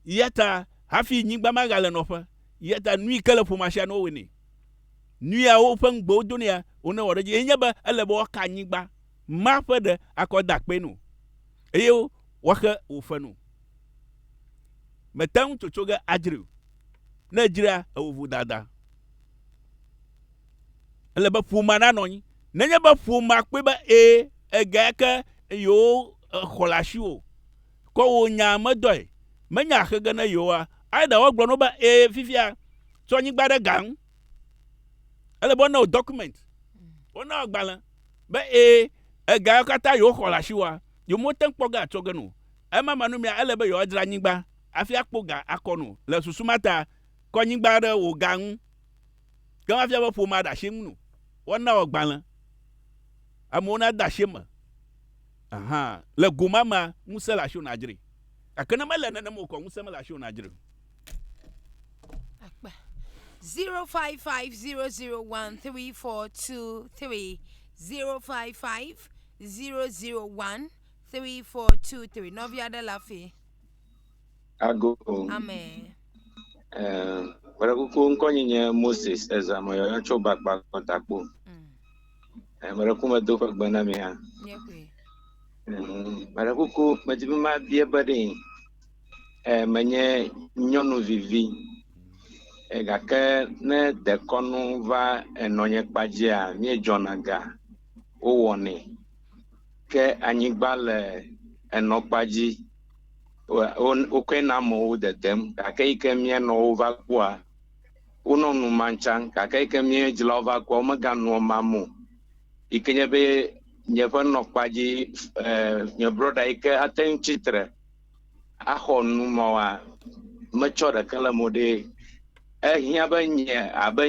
Eya ta hafi nyigba magale nɔƒe. Eya ta nui ke le ƒomea sia ne wowɔe nɛ. Nu ya woƒe ŋugbe wodo nɛa, wonewɔ ɖe edzi. Ye nye be ele be woaka anyigba ma ƒe ɖe akɔ ade akpee no eye woaxe wòfe no. Mète ŋu tsotso ge adzrae o. Ne èdzra ewò vodada. Ele be ƒomea nanɔ anyi. Nenye be ƒomea kpɔe be ẽ, egea ke yewo xɔ le asi o, kɔ wò nyaa medɔe, menye axe ge ne yewoa. Either woagblɔ na wò be ẽ fifia, tsɔ nyigba ɖe ga ŋu. Ele be wona wò document, wona wò agbalẽ be ẽ, ega yewo katã yewo xɔ le asi woa, yewo mete ŋu kpɔ ge atsɔ ge nu o. Ema ma nu mea, ele be yewoa dzra nyigba hafi akpɔ ga akɔ nu. Le susu ma ta, kɔ nyigba ɖe wò ga ŋu. Ke mafia be ƒomea ɖe asi ŋu o. Woana wɔ gbalẽ. Amewo na de asi me. Aha. Le go ma mea, ŋusẽ le asi wò na dzre. Gake ne mele nenem o kɔ, ŋusẽ mele asi wò na dzre o. Akpa. 0550013423 0550013423 nɔvi aɖe le afii. Ago. Amen. Kpɔɖe kuku ŋkɔ nyi nye Moses ezame yɔyɔ tso bakpa kɔtakpo. Kpɔɖe kuku medo ƒe gbe na mi hã. Kpɔɖe kuku medi be mabia be ɖe menye nyɔnuvi vi gake ne dekɔnu va enɔnye kpa dzia míedzɔna ga wowɔnɛ ke anyigba le enɔ kpa dzi. wokɔe na amewo dedem gake eyi ke míenɔ wova kpɔa, wonɔ nu ma tsã gake eyi ke míedzrawo va kpɔa, womeganua ma me o. Yi ke nye be nye ƒe nɔkpa dzi e nye brɔda yi ke ate ŋu tsi tre axɔ nu mawoa, metsɔ ɖeke le eme o ɖe ehiã be nye abe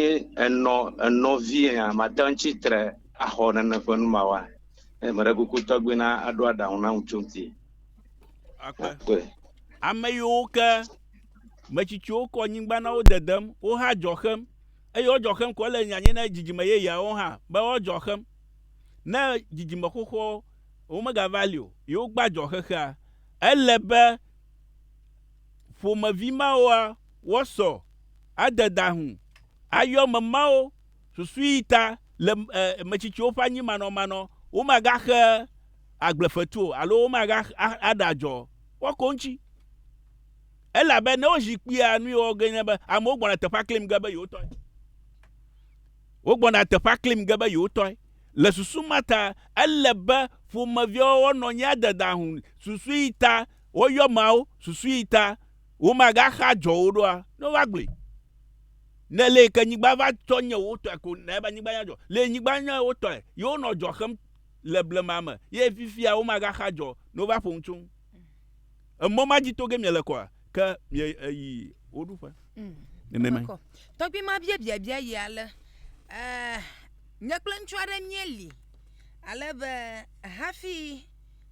enɔ enɔvi ene mate ŋu atsi tre axɔ nene ƒe nu mawoa, meɖe kuku tɔgbi na aɖo aɖaŋu nam tso ŋuti. akpe. akpe. Ame yiwo ke metsitsiwo kɔ nyigba na wo dedem, wo hã dzɔ xem, eye wodzɔ xem ko ele nyanye na dzidzime yeyeawo hã be woadzɔ xem. Ne dzidzime xoxoa womegava li o, yewo gba dzɔ xexea. Ele be ƒomevi mawoa wosɔ ade dahu ayɔ ame mawo susu yi ta le eh, metsitsiwo ƒe anyi manɔmanɔ, womagaxe agble fetu o alo womega aɖe adzɔ o. Woako ŋuti. Elabe ne wozi kpuia nu yi wɔwɔ gee nye be amewo gbɔna teƒea klim ge be yewotɔe. Wogbɔna teƒea klim ge be yewotɔe. Le susu ma ta, ele be ƒomeviawo woanɔ anyi ade daŋu susu yi ta woyɔ ameawo, susu yi ta womegaxe adzɔ o ɖoa? Ne wova gblɔe. Ne le yi ke nyigba va tsɔ nye wotɔe ko, ne ebe nyigba nye adzɔ. Le nyigba nye wotɔe. Yewonɔ adzɔ xem le blema me ye fifia womagaxa dzɔ ne wova ƒo nu tso ŋu. Emɔ ma dzi to ge miele kɔa, ke mieyi wo ɖuƒe. Mm. Nenemae. Tɔgbui ma bia biabia yi ale, Ee, nye kple ŋutsu aɖe míeli ale be hafi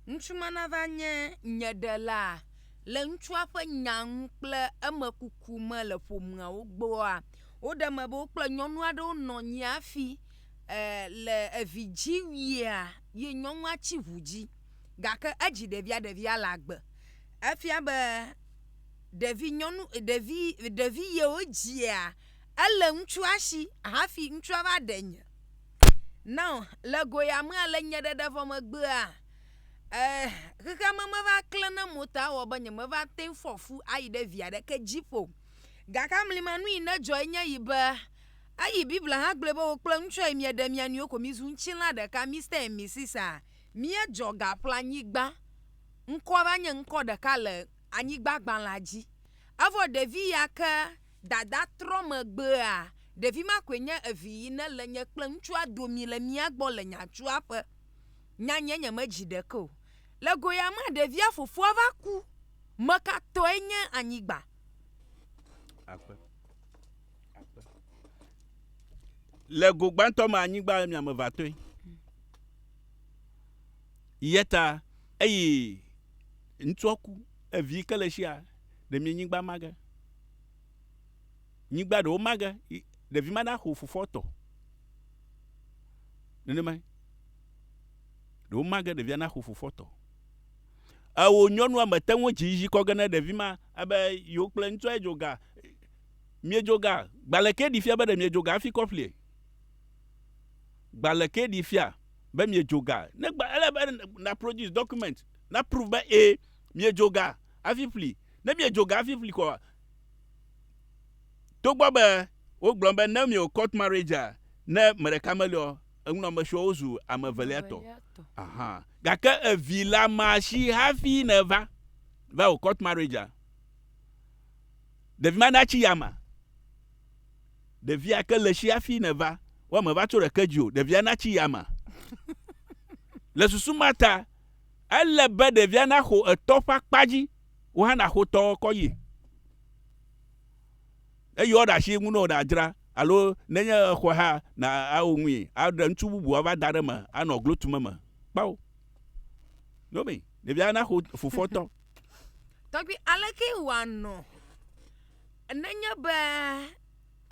ŋutsu ma nava nye nye ɖela le ŋutsua ƒe nya ŋu kple eme kuku me le ƒomeawo gbɔa, woɖe eme be wokple nyɔnu aɖewo nɔ anyi hafi le evi dzi wuia ye nyɔnua tsi ŋu dzi gake edzi ɖevia ɖevia le agbe. Efia be ɖevi nyɔnu ɖevi ɖevi yewo dzia ele ŋutsua si hafi ŋutsua va ɖe nye. Nao le go ya mea le nye ɖeɖe vɔ megbea e xexeame meva kle ne mo ta ewɔ be nyemeva te ŋu fɔ fu ayi ɖe vi aɖeke dzi ƒo o. Gake amlimanu yi ne dzɔ enye yi be Eyi Biblia hã gblɔe be wò kple ŋutsuae mieɖe mia nɔewo ko mizu ŋutilã ɖeka, Mister and Misis a. Míedzɔ gaƒleanyigba. Ŋkɔa va nye ŋkɔ ɖeka le anyigbagbalẽa dzi. Evɔ ɖevi ya ke dada trɔ megbea, ɖevi ma koe nye evi yi ne le nye kple ŋutsua domi le mía gbɔ le nyatsuaƒe. Nyanyɛ nyemedzi ɖeke o. Le go ya mea, ɖevia fofoa va ku. Meka tɔe nye anyigba? Akpe. Le go gbãtɔ me anyigba miame va tɔe. Yeta eyi ŋutsua ku evi ke le sia ɖe mi nyigba mage. Nyigba ɖewo mage ɖevi ma naxo fofoa tɔ. Nenema ɖewo mage ɖevia naxo fofoa tɔ. Ewo nyɔnua mete ŋu dzi dzi kɔ ge ne ɖevi ma ebe yewo kple ŋutsua dzo ga Miedzo ga? Gbalẽ ke ɖi fia be ɖe miedzo ga hafi kɔ ƒlie? Gbalẽ ke ɖi fia be miedzo ga? Ne gba, ele be na produce document na proof be ee, miedzo ga hafi ƒli. Ne miedzo ga hafi ƒli kɔa, togbɔ be wogblɔ be ne miewɔ court marriage-a, ne me ɖeka meliɔ, enunɔamesiwo wozu ame evelia tɔ. Aha. Gake evi la ma si hafi nèva va wɔ court marriage-a. Ɖevi ma natsi yama. Ɖevia ke le tsi afi ne va. Wo ame va tso ɖeke dzi o. Ɖevia natsi yama. Le susu ma ta, ele be ɖevia naxo etɔ ƒe akpa dzi. Wo hã naxo tɔ kɔ yi. Eyi woaɖe asi ŋu ne wòɖe adzra alo nenye exɔe hã na awo ŋui aɖe ŋutsu bubu ava da ɖe eme anɔ glo tum eme. Kpao. Nome. Ɖevia naxo fofoa tɔ. Tɔgbi aleke wòanɔ nenye be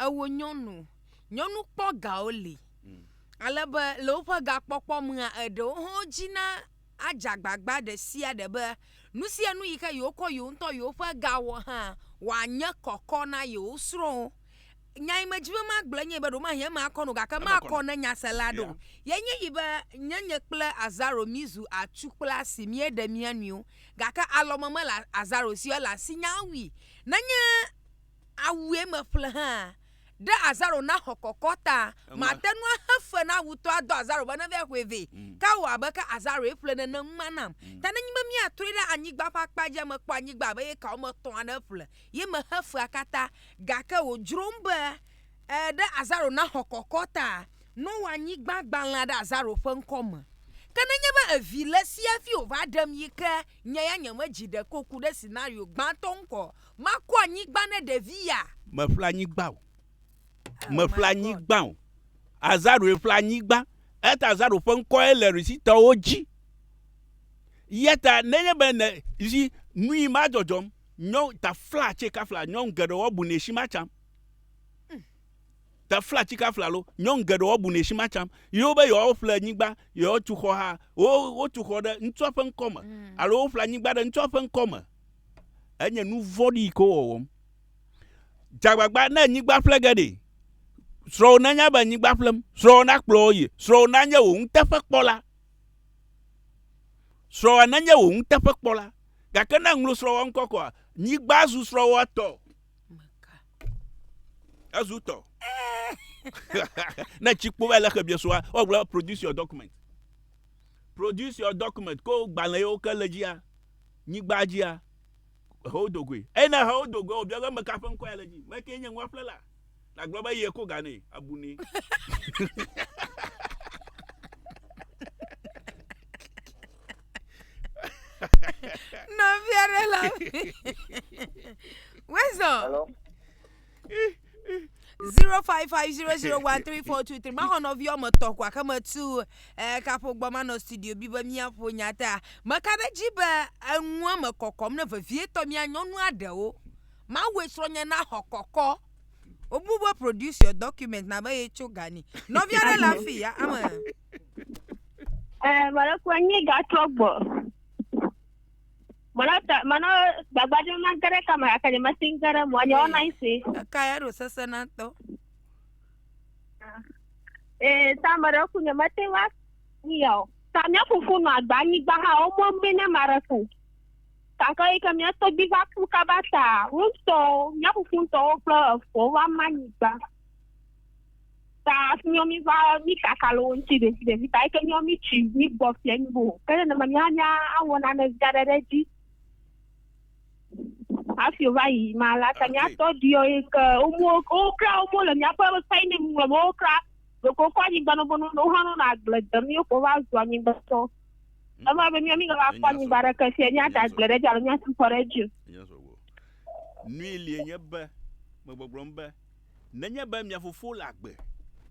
ewò nyɔnu, nyɔnu kpɔ gawo li mm. ale be le woƒe gakpɔkpɔ mea eɖewo hã dzi na adze agbagba ɖe sia ɖe be nu sia nu yi ke yewokɔ yewo ŋutɔ yewoƒe gawɔ hã wòanye kɔkɔ na yewo srɔ̃wo. nya yi medzi be magblɔ enye be ɖomahie eme akɔ no gake makɔ ne nyasela ɖo yenye yi be nye nye kple azaro mizu atsu kple asi míeɖe mía nɔewo gake alɔme mele azaro si ele asi nya awui nenye awue meƒle hã ɖe azaro naxɔ kɔkɔ ta mate nu axe fe na awutɔ adɔ azaro be neve ƒoe vɛ mm. ke wɔ abe ke azaro eƒle nene ŋma nam mm. ta nenye be míatrɔe ɖe anyigba ƒe akpa dzi mekpɔ anyigba abe ye kawo me tɔa ne ƒle ye mexe fea katã. Gake wòdzrom be, Ẽ, ɖe azaro naxɔ kɔkɔ ta, Noa nyigba gbalẽa ɖe azaro ƒe ŋkɔ me. Ke nenye be evi le esi hafi wòva ɖem yi ke nye ya nyemedzi ɖeko ku ɖe sinario gbãtɔ ŋu kɔ makɔ anyigba ne ɖevi ya. Meƒle anyigba o. Oh Meƒle my God. anyigba o. Azaroe ƒle anyigba. Eya ta azaro ƒe ŋkɔe le Risitɔwo dzi. Eya ta nenye be ne, zi, nui ma dzɔdzɔm. Nyɔnu tafla tse kafla nyɔnu geɖe woabu ne shi ma tsam. Hmm. Tafla tse kafla lo nyɔnu geɖe woabu ne shi ma tsam. Yewo be yewo ƒle anyigba, yewo tu xɔ ha, wo wo tu xɔ ɖe ŋutsua ƒe ŋkɔ me hmm. alo wo ƒle anyigba ɖe ŋutsua ƒe ŋkɔ me. Enye nu vɔɖi yi ke wɔwɔm. Dzagbagba ne anyigba ƒle ge ɖe. Srɔ̃wò nanya be anyigba ƒlem, srɔ̃wò nakplɔ wo yi, srɔ̃wò nanye wò ŋuteƒekpɔla. Srɔ̃wò nanye wò ŋuteƒekpɔla. Gake ne ŋlo srɔ̃wɔa ŋkɔ kɔa, nyigba zu srɔ̃wɔa tɔ. Ezu tɔ. ne tsi kpo va le xe biesua, wogblɔ produce your document. Produce your document. Ko gbalẽ yewo ke le dzia, nyigba dzia, hewo dogoe. Eye ne hewo dogoe, wobiɔ be meka ƒe ŋkɔ ya le dzi. Meke nye nua ƒlela. Nàgblɔ be yie ko ga nɛ, abu nɛ. Nɔvia ɖe la. Wezɔ. Hello. 0550013423 maxɔ nɔvi wɔme etɔ̃ kɔ axe metu eh, kaƒo gbɔ manɔ studio bi be míaƒo nya ta meka ɖe dzi be enua me kɔkɔm ne vevietɔ mía nyɔnua ɖewo Mawue srɔ̃nye na xɔ kɔkɔ. Wobu be produce your document na be yetso gani. Nɔvi aɖe le afi ya ame. Eh, mara kwa nye ga trogbo. Mara ta mana gbagba de ma gare kama akane ma singare mo anya ona isi. Ka ya ro sese na to. Eh, ta mara ku ne mate wa ni yo. Ta mia fufu no agba ni gba ha o mo mbe na mara ku. Gake yi ke mía tɔgbui va ku kaba ta, wo ŋutɔwo, mía fofo ŋutɔwo kple efoawo va ma nyigba ta hafi míawo míva míkaka le wo ŋuti ɖevi ɖevi ta yi ke míawo mítsi mígbɔ fia mí bo. Ke nenema mía hã míawɔ nane vi aɖe ɖe edzi hafi wova yi ma la ta mía tɔgbuiwo yi ke womo wokra womo le míaƒe sainim ŋlɔm wokra ɖeko kɔ anyigba nɔbɔ nɔ wohã nɔnɔ agble dem yewo ko va zu anyigbetɔ. Eva be mia mi gava kpɔ anyigba ɖeke fia nya da gble ɖe dzi alo nya sukɔ ɖe dzi. Nui lie nye be megbɔgblɔm be nenye be mia fofo le agbe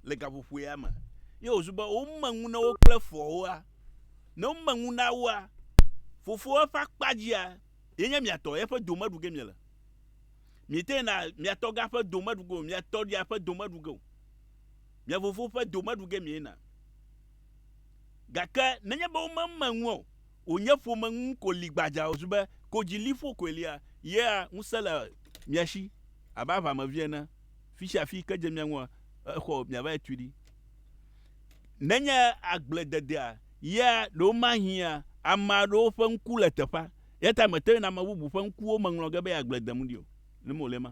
le gaƒoƒoea me ye wòzu be wome ŋu na wo kple foawoa, ne wome ŋu na woa, fofoa ƒe akpa dzia ye nye mia tɔ, yeƒe dome ɖuge miele. Miete na mia tɔ ga ƒe dome ɖuge o, mia tɔ ɖia ƒe dome ɖuge o. Mia fofo ƒe dome ɖuge miena. Gake nenye be womeme ŋu o, wònye ƒome ŋu ko li gbadzaa wòzu be kodziliƒo koe lia, yea ŋusẽ le mia si abe aʋamevi ene, fi sia fi yi ke dze mia ŋua, exɔ miavae tui ɖi. Nenye agblededea ya ɖe womahiã ame aɖewo ƒe ŋku le teƒea, eya ta mètɔe na ame bubu ƒe ŋkuwo me ŋlɔ ge be yeagble dem ɖi o, ne mewòlɔ̃e ma.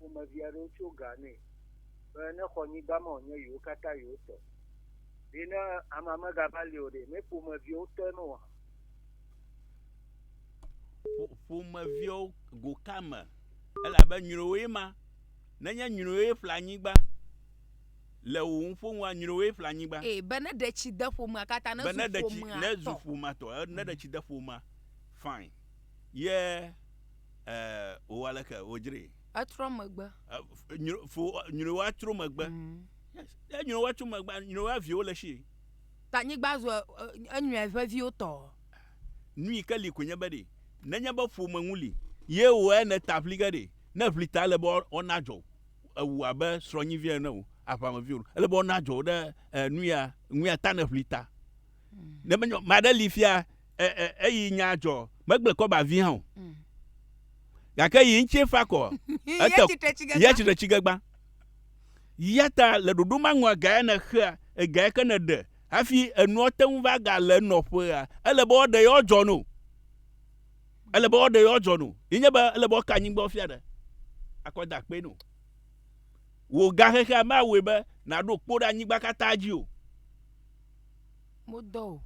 ƒomevi aɖewo tso ga nɛ be nexɔ nyigba ma wònye yewo katã yewo tɔ. Ɖe ne amea megava li o ɖe, ne ƒomeviewo tɔe me oa? Ƒomeviewo go ka me? Elabe nyrowoe ma. Nenye nyrowoe ƒle anyigba le wò ŋu ƒo ŋua, nyrowoe ƒle anyigba. Ee, be ne ɖe tsi de ƒomea katã, ne zu ƒomea tɔ. Ne zu ƒomea tɔ, ne ɖe tsi de ƒomea, fine. Ye eh, wòwɔ aleke? Wòdzree. Etrɔ megbe. Eh, nyro, fo, nyroa tro megbe. Mm. Yes. Ye nyroa tro megbe, nyroa viwo le eshie. Ta nyigba zu eh, enyɔe ƒe viwo tɔ. Nu yi ke li koe nye be ɖe, nenye be ƒome ŋu li, ye wòwɔ eya ne ta ŋli ge ɖe, ne ŋli ta ele be woa, na dzɔ ewu abe srɔ̃nyi vi ene o, aʋame vi o, ele be woana dzɔ wo ɖe eh, nuya, nuya ta ne ŋli ta. Ne menye ame aɖe li fia eyi nya dzɔ, megble kɔ ba vi hã o. Mm. Gake yi ŋuti fa kɔ. Ete ya tsitre tsigegba. Ya ta le ɖoɖo ma ŋua gae ne xea, egae ke ne ɖe hafi enua te ŋu va ga le nɔƒea. Ele be woɖe yewo dzɔ no. Ele be woɖe yewo dzɔ no. Yi nye be ele be woka anyigba fia ɖe. Akɔ da kpe no. Wò gahexea ma wɔe be naɖo kpo ɖe anyigba katã dzi o. modɔ o.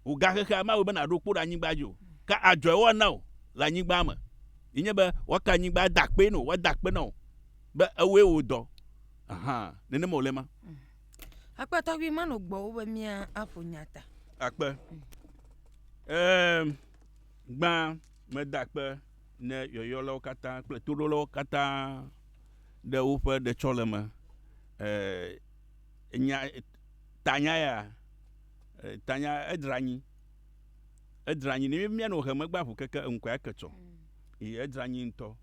Wògagexea mawɔe be nàɖo kpo ɖe anyigba dzi o, ke adzɔe woana wò le anyigba me, yi nye be woaka anyigba ada akpee na wò, woada akpe na wò be ewɔe wò dɔ. Aha, nenema wòle ema. Akpe tɔgbi manɔ gbɔwò be mía aƒo nya ta. Akpe. Eem, gbã meda akpe ne yɔyɔlawo katã kple toɖolawo katã ɖe woƒe ɖetsɔleme. Eee. Nya, tanya ya, tanya edra anyi. Edra anyi. Ne mía nɔ heme gba ŋu keke eŋkɔe ake tsɔ. Yi edra anyi ŋutɔ.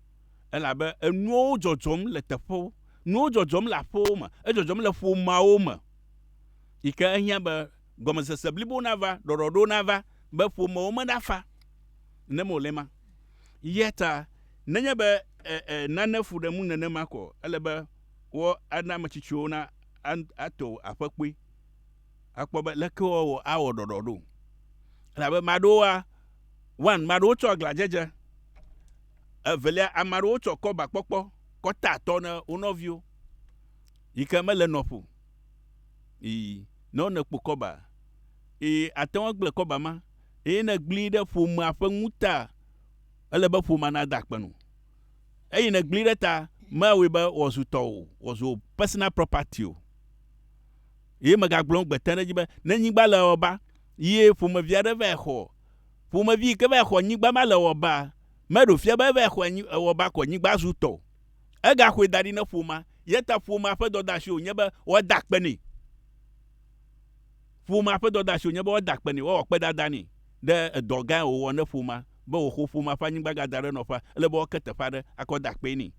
Elabe enuwo dzɔdzɔm le teƒewo. Nuwo dzɔdzɔm le aƒewo me. Edzɔdzɔm le ƒomeawo me. Yi ke ehiã be gɔmesese blibo nava, ɖɔɖɔɖo nava be ƒomewo me na fa ne me wòle ema. Yata nenye be e, e, nane fu ɖe ŋu nenema koa, ele be wɔ ana ame tsitsiwo na ato aƒe kpui akpɔ be leke wɔ awɔ ɖɔɖɔ ɖo. Elabe ame aɖewoa, one, ame aɖewo tsɔ aglãdzedze. Evelia, ame aɖewo tsɔ kɔbakpɔkpɔ kɔ tea atɔ na wo nɔviwo yi ke mele nɔƒo yi ne wonɔ kpo kɔba eye ate ŋu agblẽ kɔba ma eye ne egblẽe ɖe ƒomea ƒe ŋuta, ele be ƒomea nada akpe na wo. Eyi nègblẽe ɖe ta, mewɔe be wòazu tɔwò, wòazu wò personal property o. Eye megagblɔ gbe te ɖe edzi be, ne nyigba le ewɔba, eye ƒomevi aɖe vae xɔ, ƒomevi yi ke vae xɔ nyigba ma le ewɔba, meɖo fia be evae xɔe nyi ewɔba ko nyigba zu tɔ o. Egaxɔe da ɖi ne ƒomea. Eya ta ƒomea ƒe dɔdeasi wònye be woada akpe nɛ. Ƒomea ƒe dɔdeasi wònye be woada akpe nɛ, woawɔ akpedada nɛ ɖe edɔ gã ye wòwɔ ne ƒomea be wòxɔ ƒomea ƒe anyigba gada ɖe nɔƒea. Ele be woake teƒe aɖe akɔ da akpee nɛ.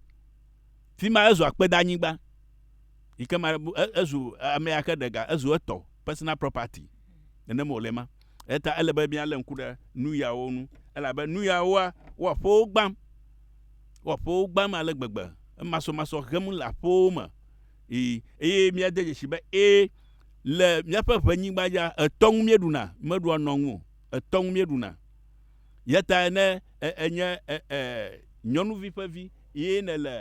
Fi ma ezu akpedanyigba yi ke ma ezu amea ke ɖe ga, ezu etɔ, personal property. Nenem wòle ema. Eya ta ele be míalé ŋku ɖe nu yawo ŋu elabe nu yawoa, wo aƒewo gbãm. Wo aƒewo gbãm ale gbegbe. Emasɔmasɔ hem le aƒewo me eye míade dzesi be ẽ, Le míaƒe ʋenyigba ya, etɔ ŋu míeɖuna, mímeɖua nɔ ŋu o, etɔ ŋu míeɖuna. Yatae ne ènye nyɔnuvi ƒe vi eye nèle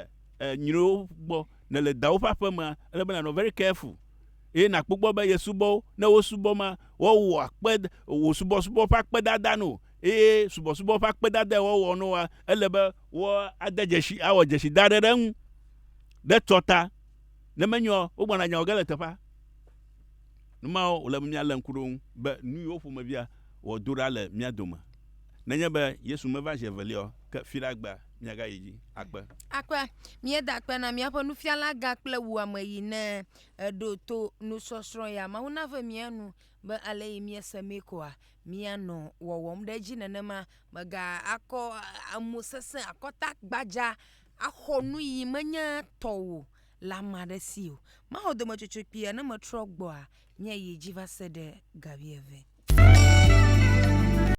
nyriwo gbɔ, nèle dawò ƒe aƒemea, ele be nànɔ very careful eye nàkpɔ gbɔ be yesubɔwo, ne wosubɔ ma, woawɔa kpe, wò subɔsubɔ ƒe akpedada na wò eye subɔsubɔ ƒe akpedadae woawɔ na wòa, ele be woade dzesi, awɔ dzesi da ɖe ɖe eŋu ɖe tsɔta. Ne menyo ɔ, wogblɔna nya wɔ ge le teƒea. Nu mawo wòle be míalé ŋku ɖe wo ŋu be nu yiwo ƒomevia wɔ do ɖa le mía dome. Nenye be Yesu meva zi evelia o, ke fiɖe agbea míagayi edzi akpe. Akpe. Míeda akpe na míaƒe nufialagã kple wò ameyi ne èɖo to nusɔsrɔ̃ ya. Mawu nave mía nu be aleyi míese mee koa, míanɔ wɔwɔm ɖe edzi nenema. Mègakɔ amo sesẽ, akɔta gbadza axɔ nu yi menye tɔwò le ame aɖe si o. Maxɔ dometsotso kpuia ne metrɔ gbɔa, nye yi dzi va se ɖe ga wuieve.